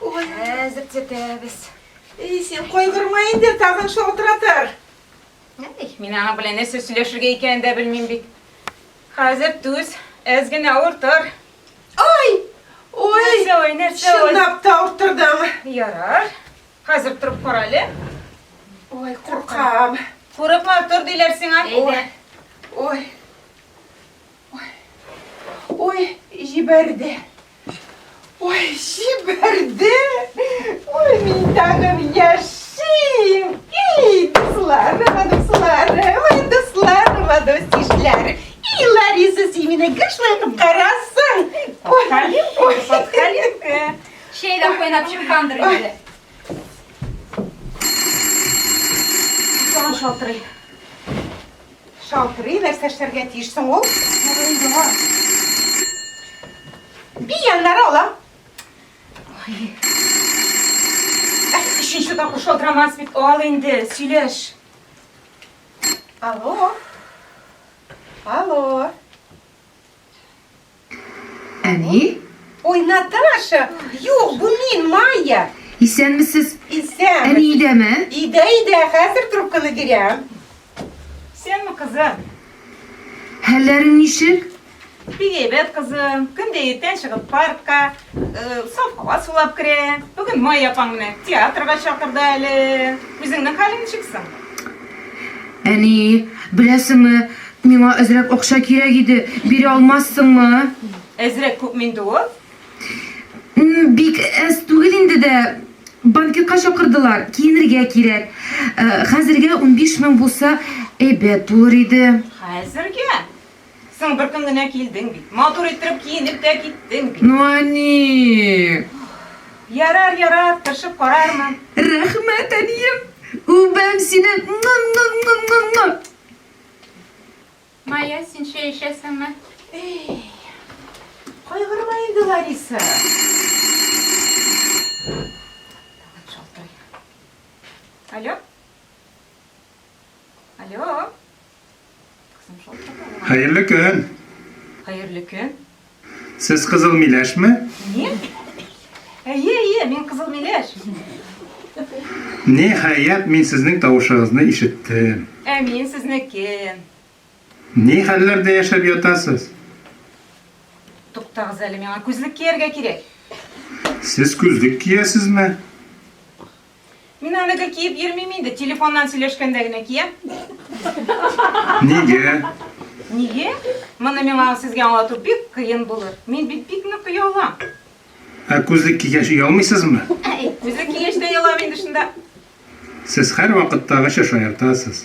Ой, хәзер төзәтәбез. Эй, син кайгырма инде, тагын шалтыратыр. Әй, мин аның белән нәрсә сөйләшергә икәнен дә белмим бит. Хәзер түз, әз генә авыртыр. Ай! Ой! Нәрсә ой, нәрсә ой? Чынлап та авырттырдың. Ярар. Хәзер торып кара әле. Ой, куркам. Курыкма, тор диләр сиңа. Ой. Ой. Ой, җибәрде. Ой, җибәрде. Ой, мин тагын яшим. Ей, дусларым, дусларым, ой, дусларым, дустишләр. И, Лариса, син мине гышлай кыпкарасың. Ой, ой, подхалинка. Чәй дә кайнап чыккандыр инде. Сон шалтырый. Шалтырый, нәрсә эшләргә тиеш соң ул? Шалтырый яңа. Бий яннары ала. Өченче тапкыр шалтырамас бит, ал инде, сөйләш. Алло. Алло. Әни? Ой, Наташа, юк, бу мин, Майя. Исәнмесез? Исән. Әни идәме? Идә, идә, хәзер трубканы бирәм. Исәнме, кызым? Хәлләрең ничек? Бигәйбәт, кызым. Көндә иртән чыгып паркка, Сафага сулап керә. Бүген Майя апаң менә театрга чакырды әле. Үзеңнең хәлең ничек соң? Әни, беләсеңме, миңа әзрәк акча кирәк иде. Бирә алмассыңмы? Әзрәк күп минде ул? Бик әз түгел инде дә. Банкетка чакырдылар, киенергә кирәк. Хәзергә унбиш мең булса, әйбәт булыр иде. Хәзергә? Соң бер көн генә килдең бит. Матур иттереп киенеп тә киттең бит. Ну они. Ярар, ярар, тырышып карармын. Рәхмәт, әнием. Үбәм сине. Мая, син чәй эчәсеңме? Эй. Кайгырма инде, Лариса. Тагын шалтырый. Алло? Алло. Кызым шул чакта. Хәерле көн. Хәерле көн. Сез кызыл миләшме? Мин? Әйе, әйе, мин кызыл миләш. Ниһаять, мин сезнең тавышыгызны ишеттем. Ә мин сезнеке. Ни хәлләрдә яшәп ятасыз? Туктагыз әле, миңа күзлек кияргә кирәк. Сез күзлек киясезме? Мин әлеге киеп йөрмим инде, телефоннан сөйләшкәндә генә киям. Нигә? Нигә? Моны миңа сезгә аңлату бик кыен булыр. Мин бит бик нык оялам. Ә күзлек кигәч оялмыйсызмы? Әй, күзлек кигәч тә оялам инде шунда. Сез һәрвакыттагыча шаяртасыз.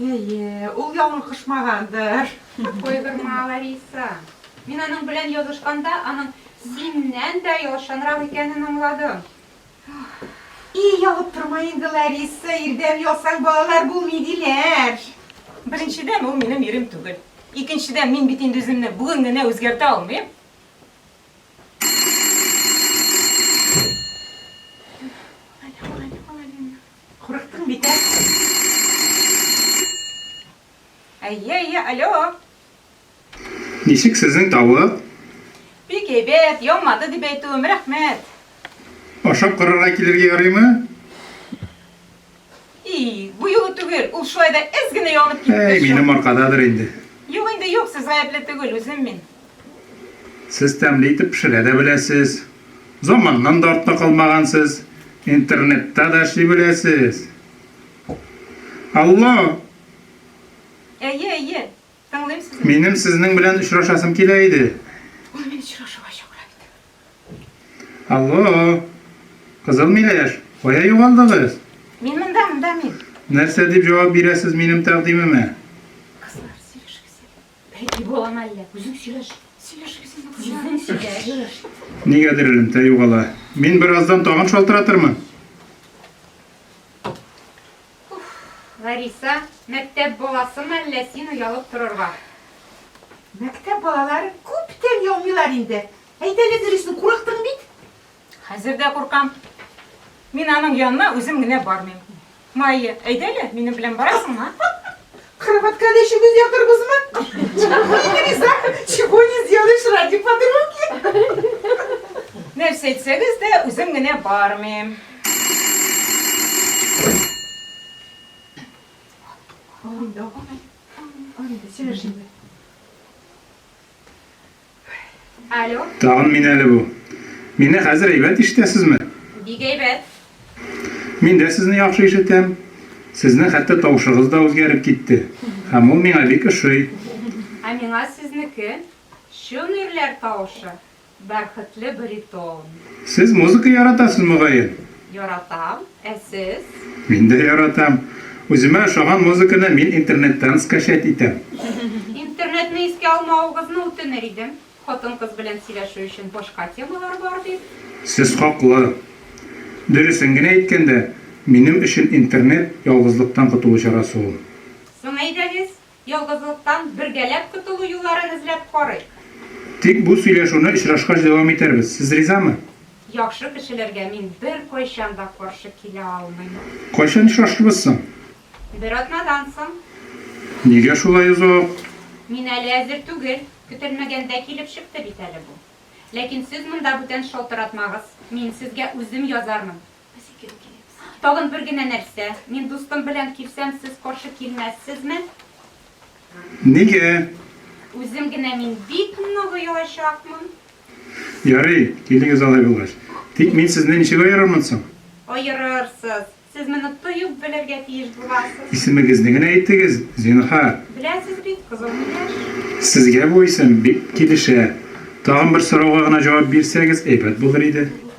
Әйе, ул ялын кушмагандыр. Койдырма, Лариса. Мин аның белән язышканда аның синнән дә ялчанрак икәнен аңладым. И, ялып торма инде, Лариса, ирдән ялсаң, балалар булмый, диләр. Беренчедән, ул минем ирем түгел. Икенчедән, мин бит инде үземне бүген генә үзгәртә алмыйм. Курыктың бит, ә? Әйе, әйе, алло! Ничек сезнең тавык? Бик әйбәт, янмады дип әйтүем, рәхмәт! Ашап карарга килергә ярыймы? И, бу юлы түгел, ул шулай да әз генә янып китте. Әй, минем аркададыр инде. Юк инде, юк, сез гаепле түгел, үзем мин. Сез тәмле итеп пешерә дә беләсез, заманнан да артта калмагансыз, интернетта да эшли беләсез. Алло! Әйе, әйе, тыңлыйм сезне. Минем сезнең белән очрашасым килә иде. Ул мине очрашуга чакыра бит. Алло! Кызыл миләш, кая югалдыгыз? Мин монда, монда мин. Нәрсә дип җавап бирәсез минем тәкъдимемә? Пәки буламы әллә? Үзең сөйләш. Сөйләшегез инде, кызлар. Үзең сөйләш. Нигәдер элемтә югала. Мин бераздан тагын шалтыратырмын. Лариса, мәктәп баласымы әллә син оялып торырга? Мәктәп балалары күптән ялмыйлар инде. Әйт әле дөресен, курыктың бит. Хәзер дә куркам. Мин аның янына үзем генә бармыйм. Майя, әйдә әле, минем белән барасың, а? Кроватька да чөгендер ятырбызмы? Чего не сделаешь ради подруги? Нәрсә әйтсәгез дә, үзем генә бармыйм. Анда, анда, сөйләшәбез. Алло. Тагын мин әле бу. Мине хәзер әйбәт ишетәсезме? Бик әйбәт. Мин дә сезне яхшы ишетәм. Сезнең хәтта тавышыгыз да үзгәреп китте. Һәм ул миңа бик ошый. Ә миңа сезнеке, чын ирләр тавышы, бәрхетле баритон. Сез музыка яратасыз, мөгаен? Яратам. Ә сез? Мин дә яратам. Үземә ошаган музыканы мин интернеттан скачать итәм. Интернетны искә алмавыгызны үтенер идем. Хатын-кыз белән сөйләшү өчен башка темалар бар бит. Сез хаклы. Дөресен генә әйткәндә, минем өчен интернет, ялгызлыктан котылу чарасы ул. Соң әйдәгез, Ялгызлыктан бергәләп котылу юлларын эзләп карыйк. Тик бу сөйләшүне очрашкач дәвам итәрбез. Сез ризамы? Яхшы кешеләргә мин беркайчан да каршы килә алмыйм. Кайчан очрашырбыз соң? Бер атнадан соң. Нигә шулай озак? Мин әле әзер түгел. Көтелмәгәндә килеп чыкты бит әле бу. Ләкин сез монда бүтән шалтыратмагыз. Мин сезгә үзем язармын. Тагын бер генә нәрсә. Мин дустым белән килсәм, сез каршы килмәссезме? Нигә? Үзем генә мин бик нык оялачакмын. Ярый, килегез алай булгач. Тик мин сезне ничек аерырмын соң? Аерырсыз. Сез моны тоеп белергә тиеш буласыз. Исемегезне генә әйтегез, зинһар. Беләсез бит, Кызыл миләш. Сезгә бу исем бик килешә. Тагын бер сорауга гына җавап бирсәгез, әйбәт булыр иде.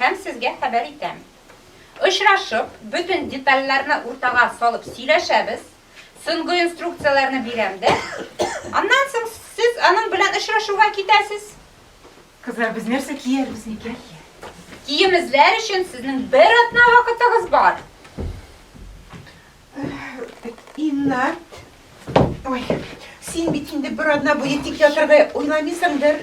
Һәм сезгә хәбәр итәм. Очрашып, бөтен детальләрне уртага салып сөйләшәбез. Соңгы инструкцияләрне бирәм дә. Аннан соң сез аның белән очрашуга китәсез. Кызлар, без нәрсә киярбез, никә? Кием эзләр өчен сезнең бер атна вакытыгыз бар. Инна, ой, син бит инде бер атна буе тик ятарга уйламыйсыңдыр.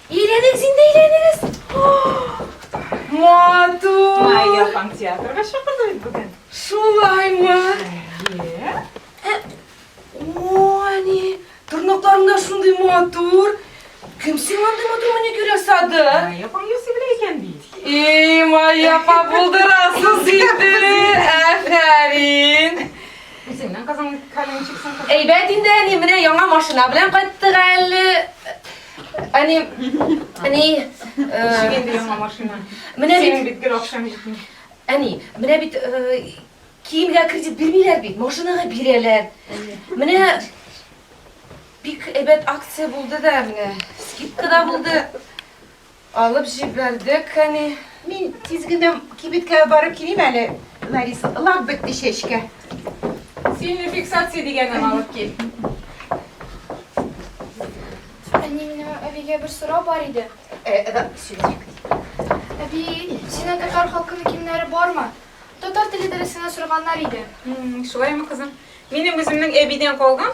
Әйләнегез инде, әйләнегез! Матур! Майя апаң театрга чакырды бит бүген. Шулаймы? Әйе. Ә, Ани, тырнакларың да шундый матур. Кем сиңа андый матур маникюр ясады? Майя апаң ясый белә икән бит. И, Майя апа булдырасыз инде. Әфәрин. Үзеңнең кызың калинчиксың. Әйбәт инде, әни, менә яңа машина белән кайттык әле. Әни, әни, Шигенде яңа машина. Менә бит. Синең бит гел акчаң җитми. Әни, менә бит киемгә кредит бирмиләр бит, машинага бирәләр. Менә бик әйбәт акция булды да, менә скидка да булды. Алып җибәрдек, әни. Мин тиз генә кибеткә барып килим әле, Ларис. Лак бетте чәчкә. Сильный фиксация дигәнен алып кил. Әни, минем әбигә бер сорау бар иде. Әби, синең татар халкының киемнәре бармы? Татар теле дәресенә сорганнар иде. Шулаймы, кызым? Минем үземнең әбидән калган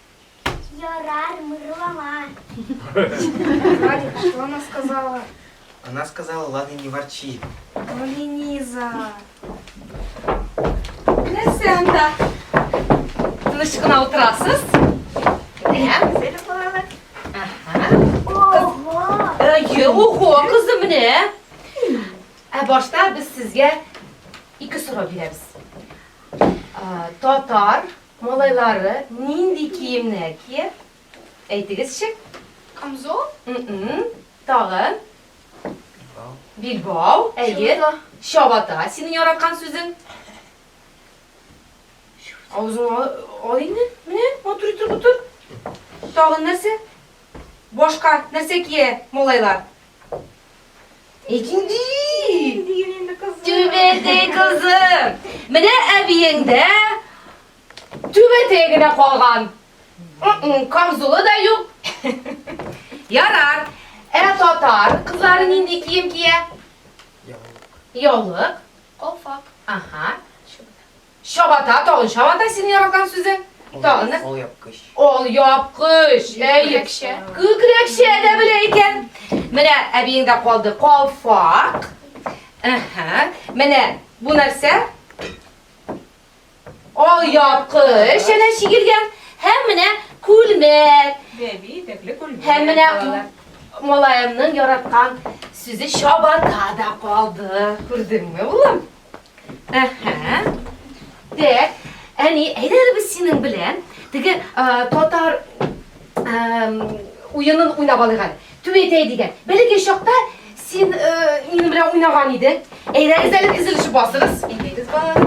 Ярар, мырлама. Радик, что она сказала? Она сказала, ладно, не ворчи. Ну, Лениза. Нәрсә анда? Тыныч кына утырасыз? Әйе. Әйе, ого, кызым менә. Ә башта без сезгә ике сорау бирәбез. Татар Малайлары нинди киемнәр кия? Әйтегезче. Камзол. М-м. Тагын? Билбау. Билбау, әйе. Чабата. Синең яраткан сүзең? Авызыңа ал инде. Менә, матур итеп утыр. Тагын нәрсә? Башка нәрсә кия малайлар? Икенди! Түбәтәй кызы! Менә әбиең дә түбәтәй генә калган. Камзулы да юк. Ярар. Ә татар кызлары нинди кием кия? Яулык. Яулык. Колфак. Ага. Чабата, тагын чабата синең яраткан сүзе. Тагын да. Ал япкыч. Ал япкыч. Күкрәкчә. Күкрәкчә дә белә икән. Менә әбиеңдә калды калфак. Әһә. Менә бу нәрсә? Ал япкыч әнә чигелгән. Һәм менә күлмәк. Бәби итәкле күлмәк. Һәм менә малаемның яраткан сүзе чабата да калды. Күрдеңме, улым? Әһә. Дәк, әни, әйдә әле без синең белән теге татар уенын уйнап алыйк әле. Түбәтәй дигән. Бәләкәй чакта син минем белән уйнаган идең. Әйдәгез әле тезелешеп басыгыз. Әйдәгез балалар.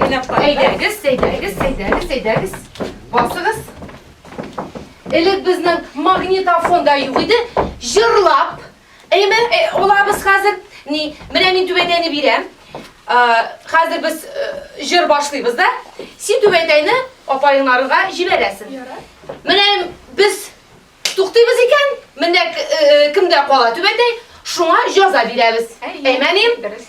Уйнап карыйк. Әйдәгез, әйдәгез, әйдәгез, әйдәгез. Басыгыз. Элек безнең магнитофон да юк иде. Җырлап Әйеме, олабыз хәзер. Ни, менә мин түбәтәйне бирәм. Хәзер без җыр башлыйбыз да. Син түбәтәйне апаеңнарга җибәрәсең. Менә без туктыйбыз икән, менә кемдә кала түбәтәй, шуңа җаза бирәбез. Әймәним? Дөрес.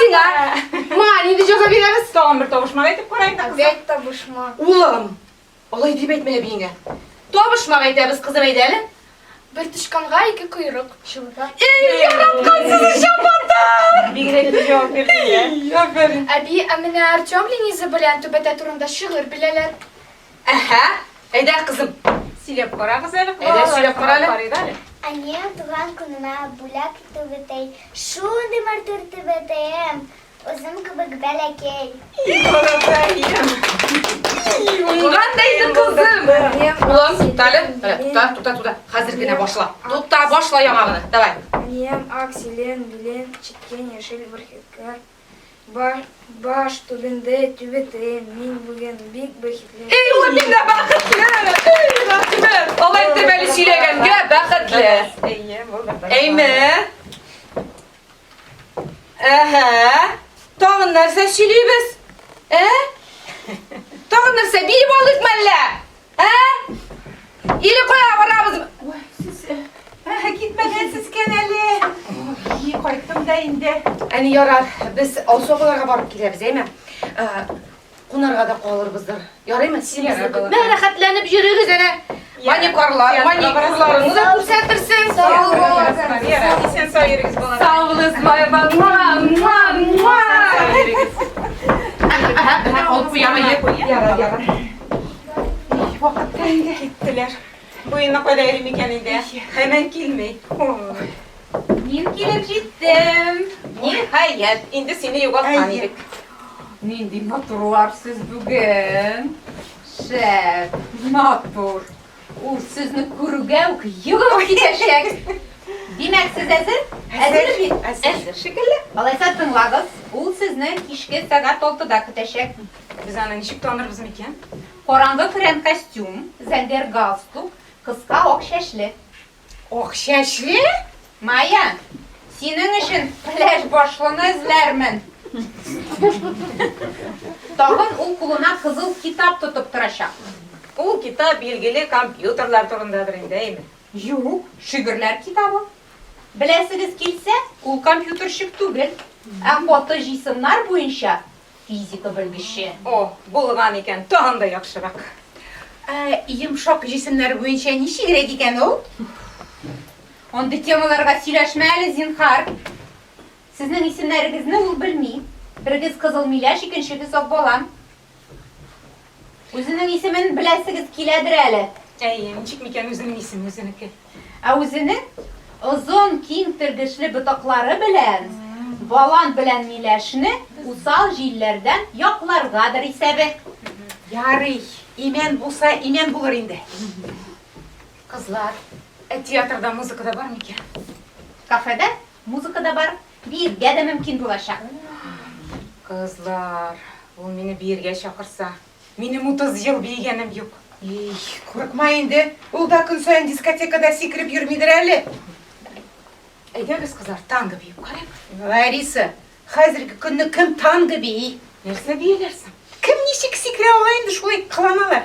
Сиңа. Ма, нинди җәза бирәбез? Тагын бер табышмак әйтеп карайык да кызым. Опять табышмак. Улым, алай дип әйтмә әбиеңә. Табышмак әйтәбез, кызым, әйдә әле. Бер тычканга ике койрык. Чынлап. Эй, яраткан сине чабатар! Бигрәк тә җавап бирдең дә. Әби, ә менә Артем Лениза белән түбәтә турында шигырь беләләр. Әһә, әйдә, кызым, сөйләп карагыз әле. Әйдә, сөйләп кара әле. Әнием туган көнемә бүләк итү бетәй, шундый матур итеп әтәем, үзем кебек бәләкәй. Туган да иде кызым. Улым, тукта әле. Тукта, тукта, тукта. Хәзер генә башла. Тукта, башла яңа гына. Давай. Әнием ак, зелен, белен, чиккән, яшел, бөркеткән. Баш түбендә түбәтә, мин бүген бик бәхетле. Эй, ул нигә бәхетле? Эй, Рәсимәр, алай итеп әле сөйләгәнгә бәхетле. Әйе, булдым. Әйме? Әһә, тагын нәрсә сөйлибез? Ә? Тагын нәрсә, биеп алдык мәллә? Ә? Или кая барабыз? Ой, сез э, ә, китмәгәнсез икән әле. Ой, кайттым да инде. Әни ярар, без Алсу апаларга барып киләбез, әйме? Ә, Кунарга да калырбыздыр. Ярыймы? Син безне көтмә. Мә, рәхәтләнеп йөрегез әле. Маникорлар, маникюрларны да күрсәтерсең. Сау Сау булыгыз. булыгыз. Вера, исән сау йөрегез, балалар. Сау булыгыз, бай балалар. Алып куяма, йә. Ярар, ярар. Вакытка инде. Киттеләр. Буена кайда йөри микән инде? Хәмән килми. Мин килеп җиттем. Ниһаять, инде сине югалткан идек. Нинди матурлар сез бүген. Шәп, матур. Ул сезне күрүгә үк йөгереп китәчәк. Димәк, сез әзер? Әзер бит? Әзер. Шикелле. Алайса тыңлагыз. Ул сезне кичке сәгать 6-да көтәчәк. Без аны ничек танырбыз микән? Караңгы көрән костюм, зәңгәр галстук, кыска ак чәчле. Ак чәчле? Майя, синең өчен пляж башлыны эзләрмен. Тагын ул кулына кызыл китап тотып торачак. Ул китап билгеле компьютерлар турындадыр инде, әйеме? Юк, шигырьләр китабы. Беләсегез килсә, ул компьютерщик түгел, ә фотоҗыйсымнар буенча физика белгече. О, булган икән, тагын да яхшырак. Ә йомшак җисемнәр буенча ничегрәк икән ул? Андый темаларга сөйләшмә әле, зинһар. Сезнең исемнәрегезне ул белми. Берегез Кызыл миләш, икенчегез Акбалан. Үзенең исемен беләсегез киләдер әле? Әйе, ничек микән үзенең исеме үзенеке? Ә үзенең озын, киң тергешле ботаклары белән балан белән миләшне усал җилләрдән якларгадыр исәбе. Ярый, имән булса, имән булыр инде. Кызлар, ә театрда музыка да бар микән? Кафеда музыка да бар, Биергә дә мөмкин булачак. Кызлар, ул мине биергә чакырса, минем утыз ел биегәнем юк. Ий, курыкма инде, ул да көн саен дискотекада сикереп йөрмидер әле. Әйдәгез, кызлар, танго биеп карыйк. Лариса, хәзерге көнне кем танго бии? Нәрсә бияләр соң? Кем ничек сикерә ала инде, шулай кыланалар.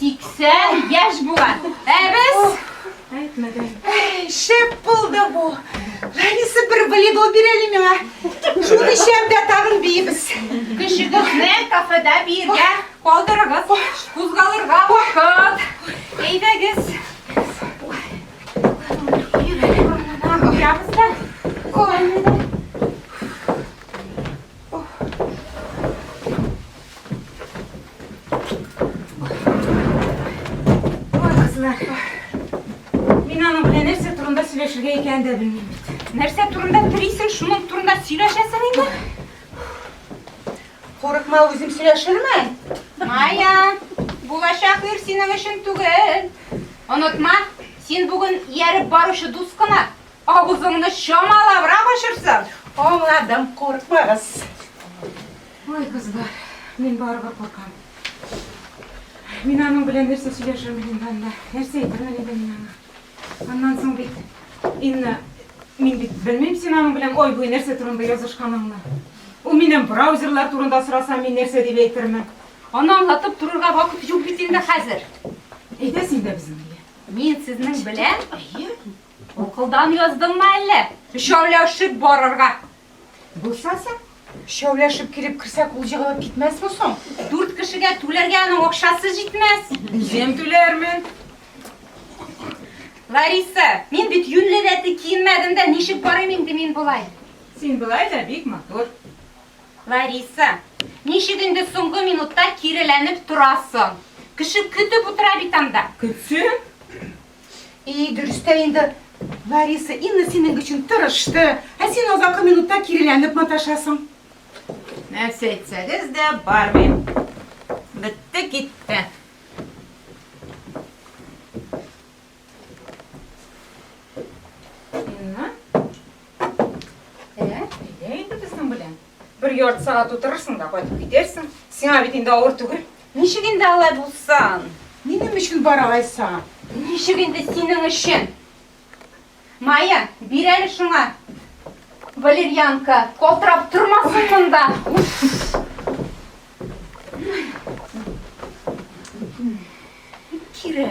80 яшь була. Ә без Әйтмәдем. Шәп булды бу. Лариса бер волейбол бирәли миңа. Шуны эчәм дә тагын биебез. Кешегезне кафеда биергә калдырыгыз. Кузгалырга вакыт. Әйдәгез. Ябызда. Ой, сөйләшергә икәнен дә белмим бит. Нәрсә турында телисең, шуның турында сөйләшәсең инде? Курыкма, үзем сөйләшермен. Майя, булачак ир синең өчен түгел. Онытма, син бүген ияреп баручы дус кына. Авызыңны чамалабрак ачырсаң, аңладым, куркмагыз. Ой, кызлар, мин барыбер куркам. Мин аның белән нәрсә сөйләшермен инде анда? Нәрсә әйтермен инде мин аңа? Аннан соң бит, Инна, мин бит белмим син аның белән ай-буе нәрсә турында язышканыңны. Ул миннән браузерлар турында сораса, мин нәрсә дип әйтермен? Аны аңлатып торырга вакыт юк бит инде хәзер. Әйдә син дә безнең белән. Мин сезнең белән? Әйе. Акылдан яздыңмы әллә? Өчәүләшеп барырга. Булса соң, өчәүләшеп килеп керсәк, ул егылып китмәсме соң? Дүрт кешегә түләргә аның акчасы җитмәс. Үзем түләрмен. Лариса, мин бит юньле рәтле киенмәдем дә, ничек барыйм инде мин болай? Син болай да бик матур. Лариса, ничек инде соңгы минутта киреләнеп торасың? Кеше көтеп утыра бит анда. Көтсен. И, дөрестә инде, Лариса, Инна синең өчен тырышты, ә син азакы минутта киреләнеп маташасың. Нәрсә әйтсәгез дә бармыйм. Бетте, китте. Инна? Ә, әйдә инде безнең белән. Бер ярты сәгать утырырсың да кайтып китәрсең. Сиңа бит инде авыр түгел. Ничек инде алай булсын? Минем өчен бар алай саң. Ничек инде синең өчен? Майя, бир әле шуңа. Валерьянка, калтырап тормасын монда. Кире.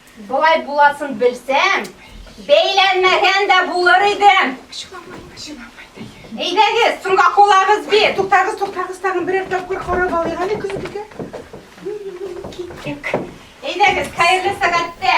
Болай буласын белсәм, бәйләнмәгән дә булыр идем. Әйдәгез, соңга кулагыз би. Туктагыз, туктагыз, тагын берәр тапкыр карап алыйк әле көзгегә. Киттек. Әйдәгез, хәерле сәгатьтә.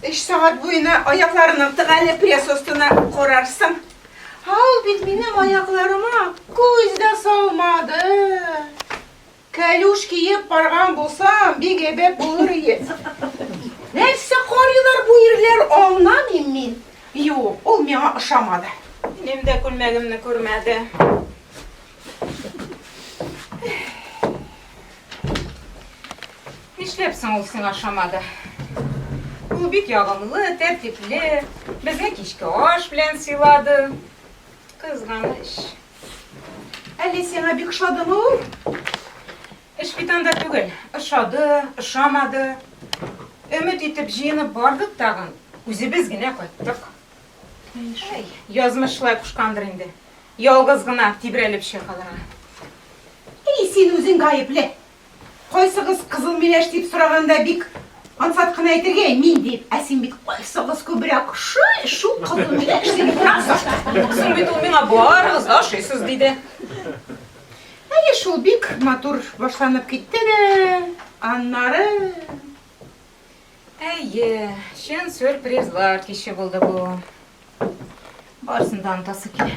Өч сәгать буена аякларының тыгәле пресс остына корарсың. Ә ул бит минем аякларыма күз дә салмады. Кәлүш киеп барган булсам, бик әйбәт булыр иде. Нәрсә карыйлар бу ирләр, аңламыйм мин. Юк, ул миңа ошамады. Минем дә күлмәгемне күрмәде. Нишләп соң ул сиңа ошамады? Ул бик ягымлы, тәртипле, безне кичке аш белән сыйлады. Кызганыч. Әллә сиңа бик ошадымы ул? Эш бит анда түгел. Ошады, ошамады. Өмет итеп җыенып бардык тагын, үзебез генә кайттык. Әй, язмыш шулай кушкандыр инде. Ялгыз гына тибрәлеп чыга калырга. Әй, син үзең гаепле. Кайсыгыз кызыл миләш дип сораганда бик ансат кына әйтергә, мин дип, ә син бит кайсыгыз күбрәк ошый, шул кызыл миләш дип утырасыз. Соң бит ул миңа барыгыз да ошыйсыз диде. Әйе шул, бик матур башланып китте дә, аннары. Әйе, чын сюрпризлар киче булды бу. Барысын да онытасы килә.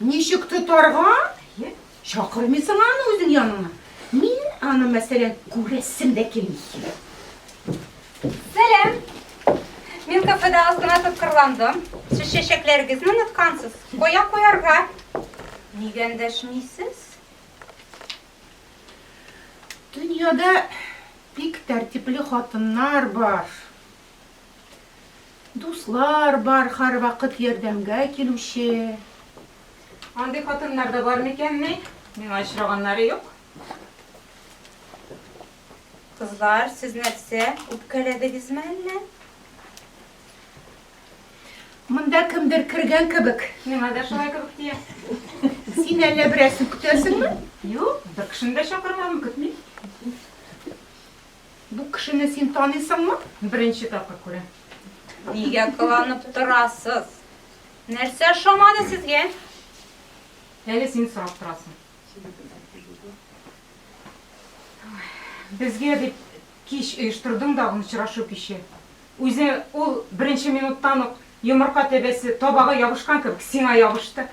Ничек тотарга? Әйе. Чакырмыйсың аны үзең яныңа. Мин аны, мәсәлән, күрәсем дә килми. Сәлам. Мин кафеда аз гына тоткарландым. Сез чәчәкләрегезне оныткансыз. Кая куярга? Нигә эндәшмисез? Дөньяда бик тәртипле хатыннар бар. Дуслар бар һәрвакыт ярдәмгә килүче. Андый хатыннар да бар микәнни? Миңа очраганнары юк. Кызлар, сез нәрсә, үпкәләдегезме әллә? Монда кемдер кергән кебек. Миңа да шулай кебек тия. Син әллә берәрсе көтәсеңме? Юк, бер кешене дә чакырмадым, көтмим. Бу кешене син таныйсыңмы? Беренче тапкыр күрәм. Нигә кыланып торасыз? Нәрсә ошамады сезгә? Әле син сорап торасың. Безгә дип кич оештырдың да очрашу киче. Үзе ул беренче минуттан ук йомырка тәбәсе табага ябышкан кебек сиңа ябышты.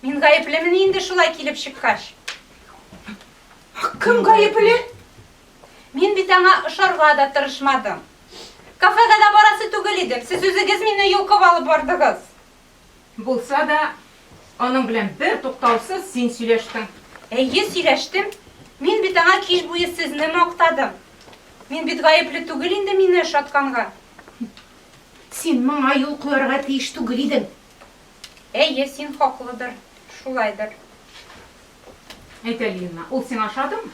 Мин гаеплемени инде шулай килеп чыккач? Кем гаепле? Мин бит аңа ошарга да тырышмадым. Кафега да барасы түгел идем. Сез үзегез мине йолкып алып бардыгыз. Булса да, аның белән бер туктаусыз син сөйләштең. Әйе, сөйләштем. Мин бит аңа кич буе сезне мактадым. Мин бит гаепле түгел инде мине ошатканга. Син моңа юл куярга тиеш түгел идең. Әйе, син хаклыдыр, шулайдыр. Әйт әле, Лина, ул сиңа ошадымы?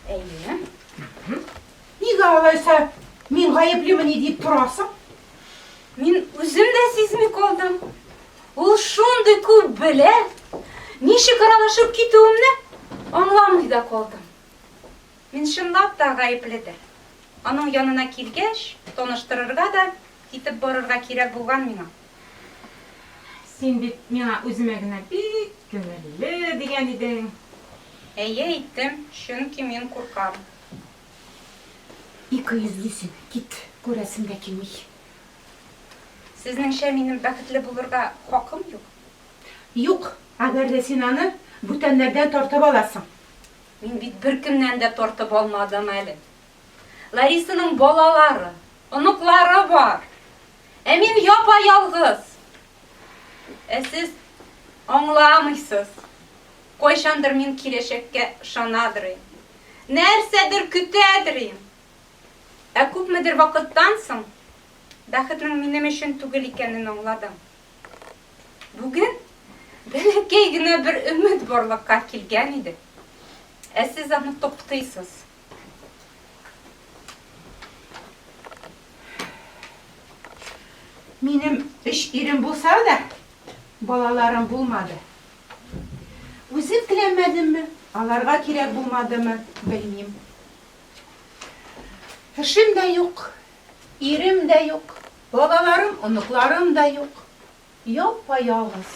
Әйе. Нигә алайса мин гаеплемени дип торасың? Мин үзем дә сизми калдым. Ул шундый күп белә, ничек аралашып китүемне аңламый да калдым. Мин чынлап та гаепледер. Аның янына килгәч, таныштырырга да китеп барырга кирәк булган миңа. Син бит миңа үземә генә бик күңелле дигән идең. Әйе, әйттем, чөнки мин куркам. Ике йөзле син, кит, күрәсем дә килми. Сезнеңчә минем бәхетле булырга хакым юк? Юк, әгәр дә син аны бүтәннәрдән тартып аласың. Мин бит беркемнән дә тартып алмадым әле. Ларисаның балалары, оныклары бар. Ә мин япа-ялгыз. Ә сез аңламыйсыз. Кайчандыр мин киләчәккә ышанадыр идем. Нәрсәдер көтәдер идем. Ә күпмедер вакыттан соң бәхетнең минем өчен түгел икәнен аңладым. Бүген бәләкәй генә бер өмет барлыкка килгән иде. Ә сез аны туктыйсыз. Минем өч ирем булса да, балаларым булмады. Үзем теләмәдемме, аларга кирәк булмадымы, белмим. Эшем дә юк, ирем дә юк. Балаларым, оныкларым да юк. Япа-ялгыз.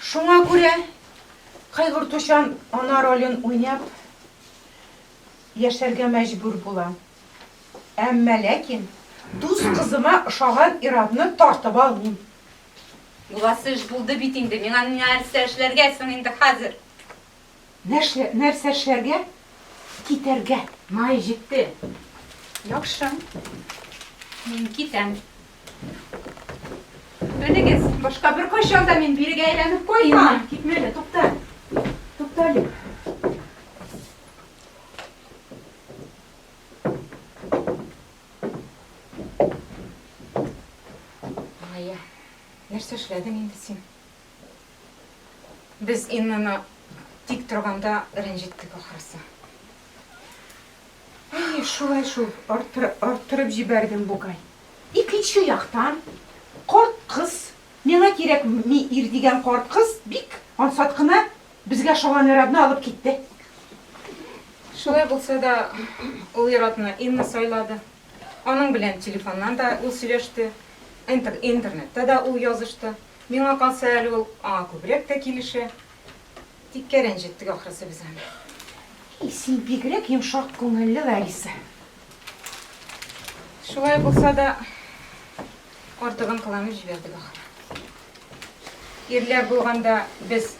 Шуңа күрә кайгыртучан ана ролен уйнап яшәргә мәҗбүр булам. Әмма ләкин дус кызыма ошаган ир-атны тартып алмыйм. Буласы эш булды бит инде, миңа нәрсә эшләргә соң инде хәзер? Нәршлә, нәрсә эшләргә? Китәргә. Май җитте. Яхшы. Мин китәм. Белегез, башка беркайчан да мин бирегә әйләнеп кайтмам. Китмә әле, тукта. Тукта әле. Майя, нәрсә эшләдең инде син? Без Иннаны тик торганда рәнҗеттек ахрысы. Әйе, шулай шул, арттырып җибәрдем бугай. Икенче яктан, карт кыз, миңа кирәкми ир дигән карт кыз бик ансат кына безгә ошаган ир-атны алып китте. Шулай булса да, ул ир-атны Инна сайлады. Аның белән телефоннан да ул сөйләште, интернетта да ул язышты. Миңа калса, әле ул аңа күбрәк тә килешә. Тиккә рәнҗеттек, ахрысы, без аны. И, син бигрәк йомшак күңелле, Лариса. Шулай булса да, артыгын кыланып җибәрдек, ахры. Ирләр булганда без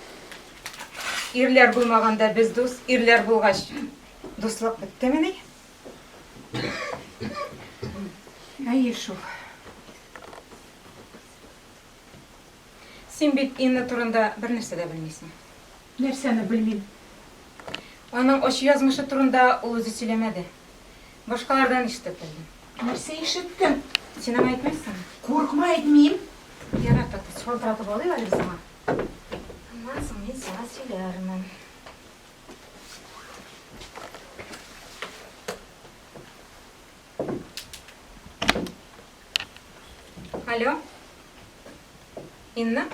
ирләр булмаганда без дус, ирләр булгач дуслык беттемени? Әйе шул. Син бит Инна турында бернәрсә дә белмисең. Нәрсәне белмим? Аның ачы язмышы турында ул үзе сөйләмәде. Башкалардан ишетеп белдем. Нәрсә ишеттең? Син аңа әйтмәссеңме? Курыкма, әйтмим. Ярар, Татыч, шалтыратып алыйк әле без аңа. Аннан соң мин сиңа сөйләрмен. Алло. Инна?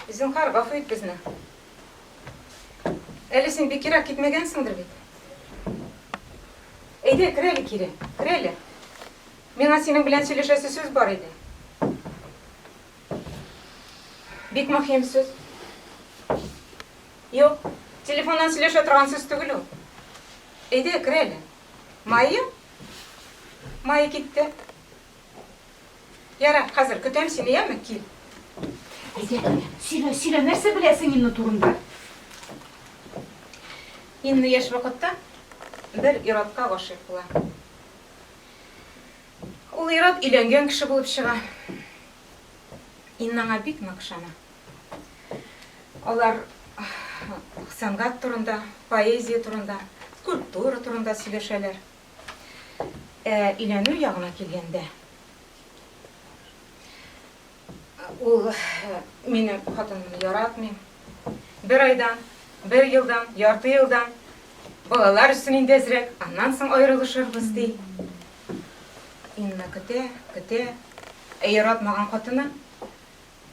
Зинхар, гафу ит безне. Әле син бик ерак китмәгәнсеңдер бит. Әйдә, кер әле кире, кер әле. Миңа синең белән сөйләшәсе сүз бар иде. Бик мөһим сүз. Юк, телефоннан сөйләшә торган сүз түгел ул. Әйдә, кер әле. Майя? Майя китте. Яра, хәзер көтәм сине, яме, кил. Әйдә, сөйлә, сөйлә, нәрсә беләсең Инна турында? Инна яшь вакытта бер иратка гашыйк була. Ул ир-ат өйләнгән кеше булып чыга. Инна аңа бик нык ышана. Алар сәнгать турында, поэзия турында, культура турында сөйләшәләр. Ә өйләнү ягына килгәндә. Ул мине хатынымны яратмый. Бер айдан, бер елдан, ярты елдан балалар өчен инде әзрәк, аннан соң аерылышырбыз ди. Инна көтә, көтә. Ә яратмаган хатыны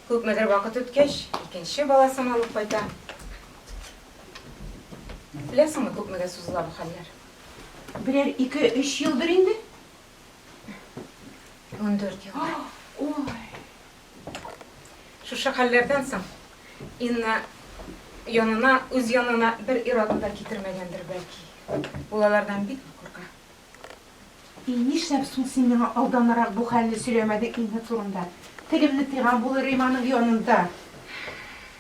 күпмедер вакыт үткәч, икенче баласын алып кайта. Беләсеңме, күпмегә сузыла бу хәлләр? Берәр ике-өч елдыр инде. 14 ел. Ой. Шушы хәлләрдән соң Инна янына, үз янына бер ир-атны да китермәгәндер бәлки. Ул алардан бик курка. И нишләп соң син миңа алданрак бу хәлне сөйләмәдең Инна турында? Телемне тыйган булыр Риманың янында.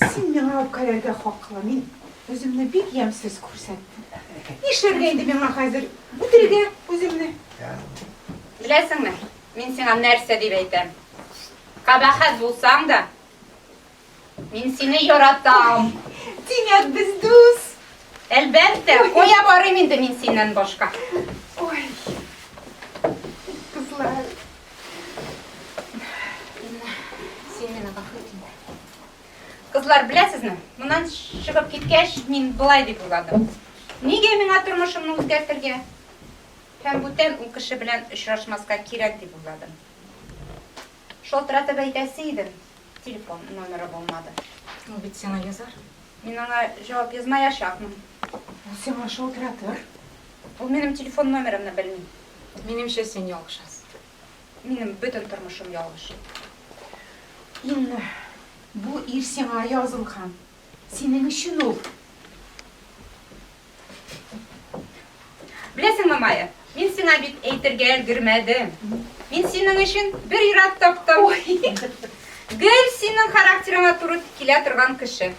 Син миңа үпкәләргә хаклы, мин үземне бик ямьсез күрсәттем. Нишләргә инде миңа хәзер үтерергә үземне? Беләсеңме, мин сиңа нәрсә дип әйтәм? Кабахәт булсаң да, мин сине яратам. Димәк, без дус. Әлбәттә, кая барыйм инде мин синнән башка? Ой. Кызлар. Кызлар, беләсезме, моннан чыгып киткәч, мин былай дип уйладым. Нигә миңа тормышымны үзгәртергә? Һәм бүтән ул кеше белән очрашмаска кирәк дип уйладым. Шалтыратып әйтәсе идем, телефон номеры булмады. Ул бит сиңа язар. Мин аңа җавап язмаячакмын. Ул сиңа шалтыратыр. Ул минем телефон номерымны белми. Минемчә син ялгышасың. Минем бөтен тормышым ялгыш. Ин бу ир сиңа язылган. Синең өчен ул. Беләсеңме, Майя, мин сиңа бит әйтергә өлгермәдем. Мин синең өчен бер ир-ат таптым. Гел синең характерыңа туры килә торган кеше.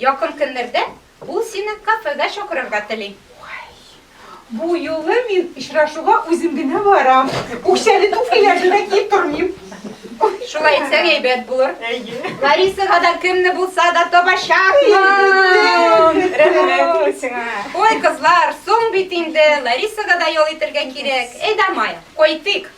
Якын көннәрдә Ул сине кафега чакырырга тели. Бу юлы мин очрашуга үзем генә барам. Үкчәле туфлиләрне дә киеп тормыйм. Шулай итсәң әйбәт булыр. Ларисага да кемне булса да табачакмын. Рәхмәт сиңа. Ой, кызлар, соң бит инде Ларисага да ял итәргә кирәк. Әйдә, Майя, кайтыйк.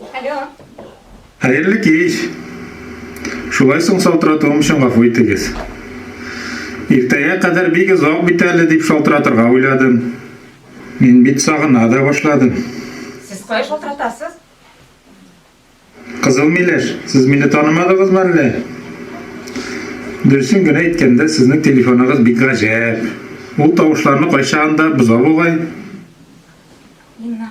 Алло. Хәерле кич. Шулай соң шалтыратуым өчен гафу итегез. Иртәгә кадәр бик озак бит әле дип шалтыратырга уйладым. Мин бит сагына да башладым. Сез кая шалтыратасыз? Кызыл миләш, сез мине танымадыгызмы әллә? Дөресен генә әйткәндә, сезнең телефоныгыз бик гаҗәп. Ул тавышларны кайчагында боза бугай. Инна.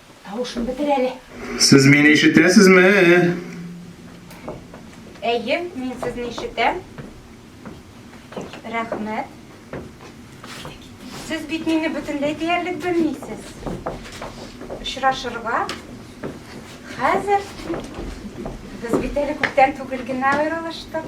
Тавышын бетер әле. Сез мине ишетәсезме? Әйе, мин сезне ишетәм. Рәхмәт. Сез бит мине бөтенләй диярлек белмисез. Очрашырга хәзер без бит әле күптән түгел генә аерылыштык.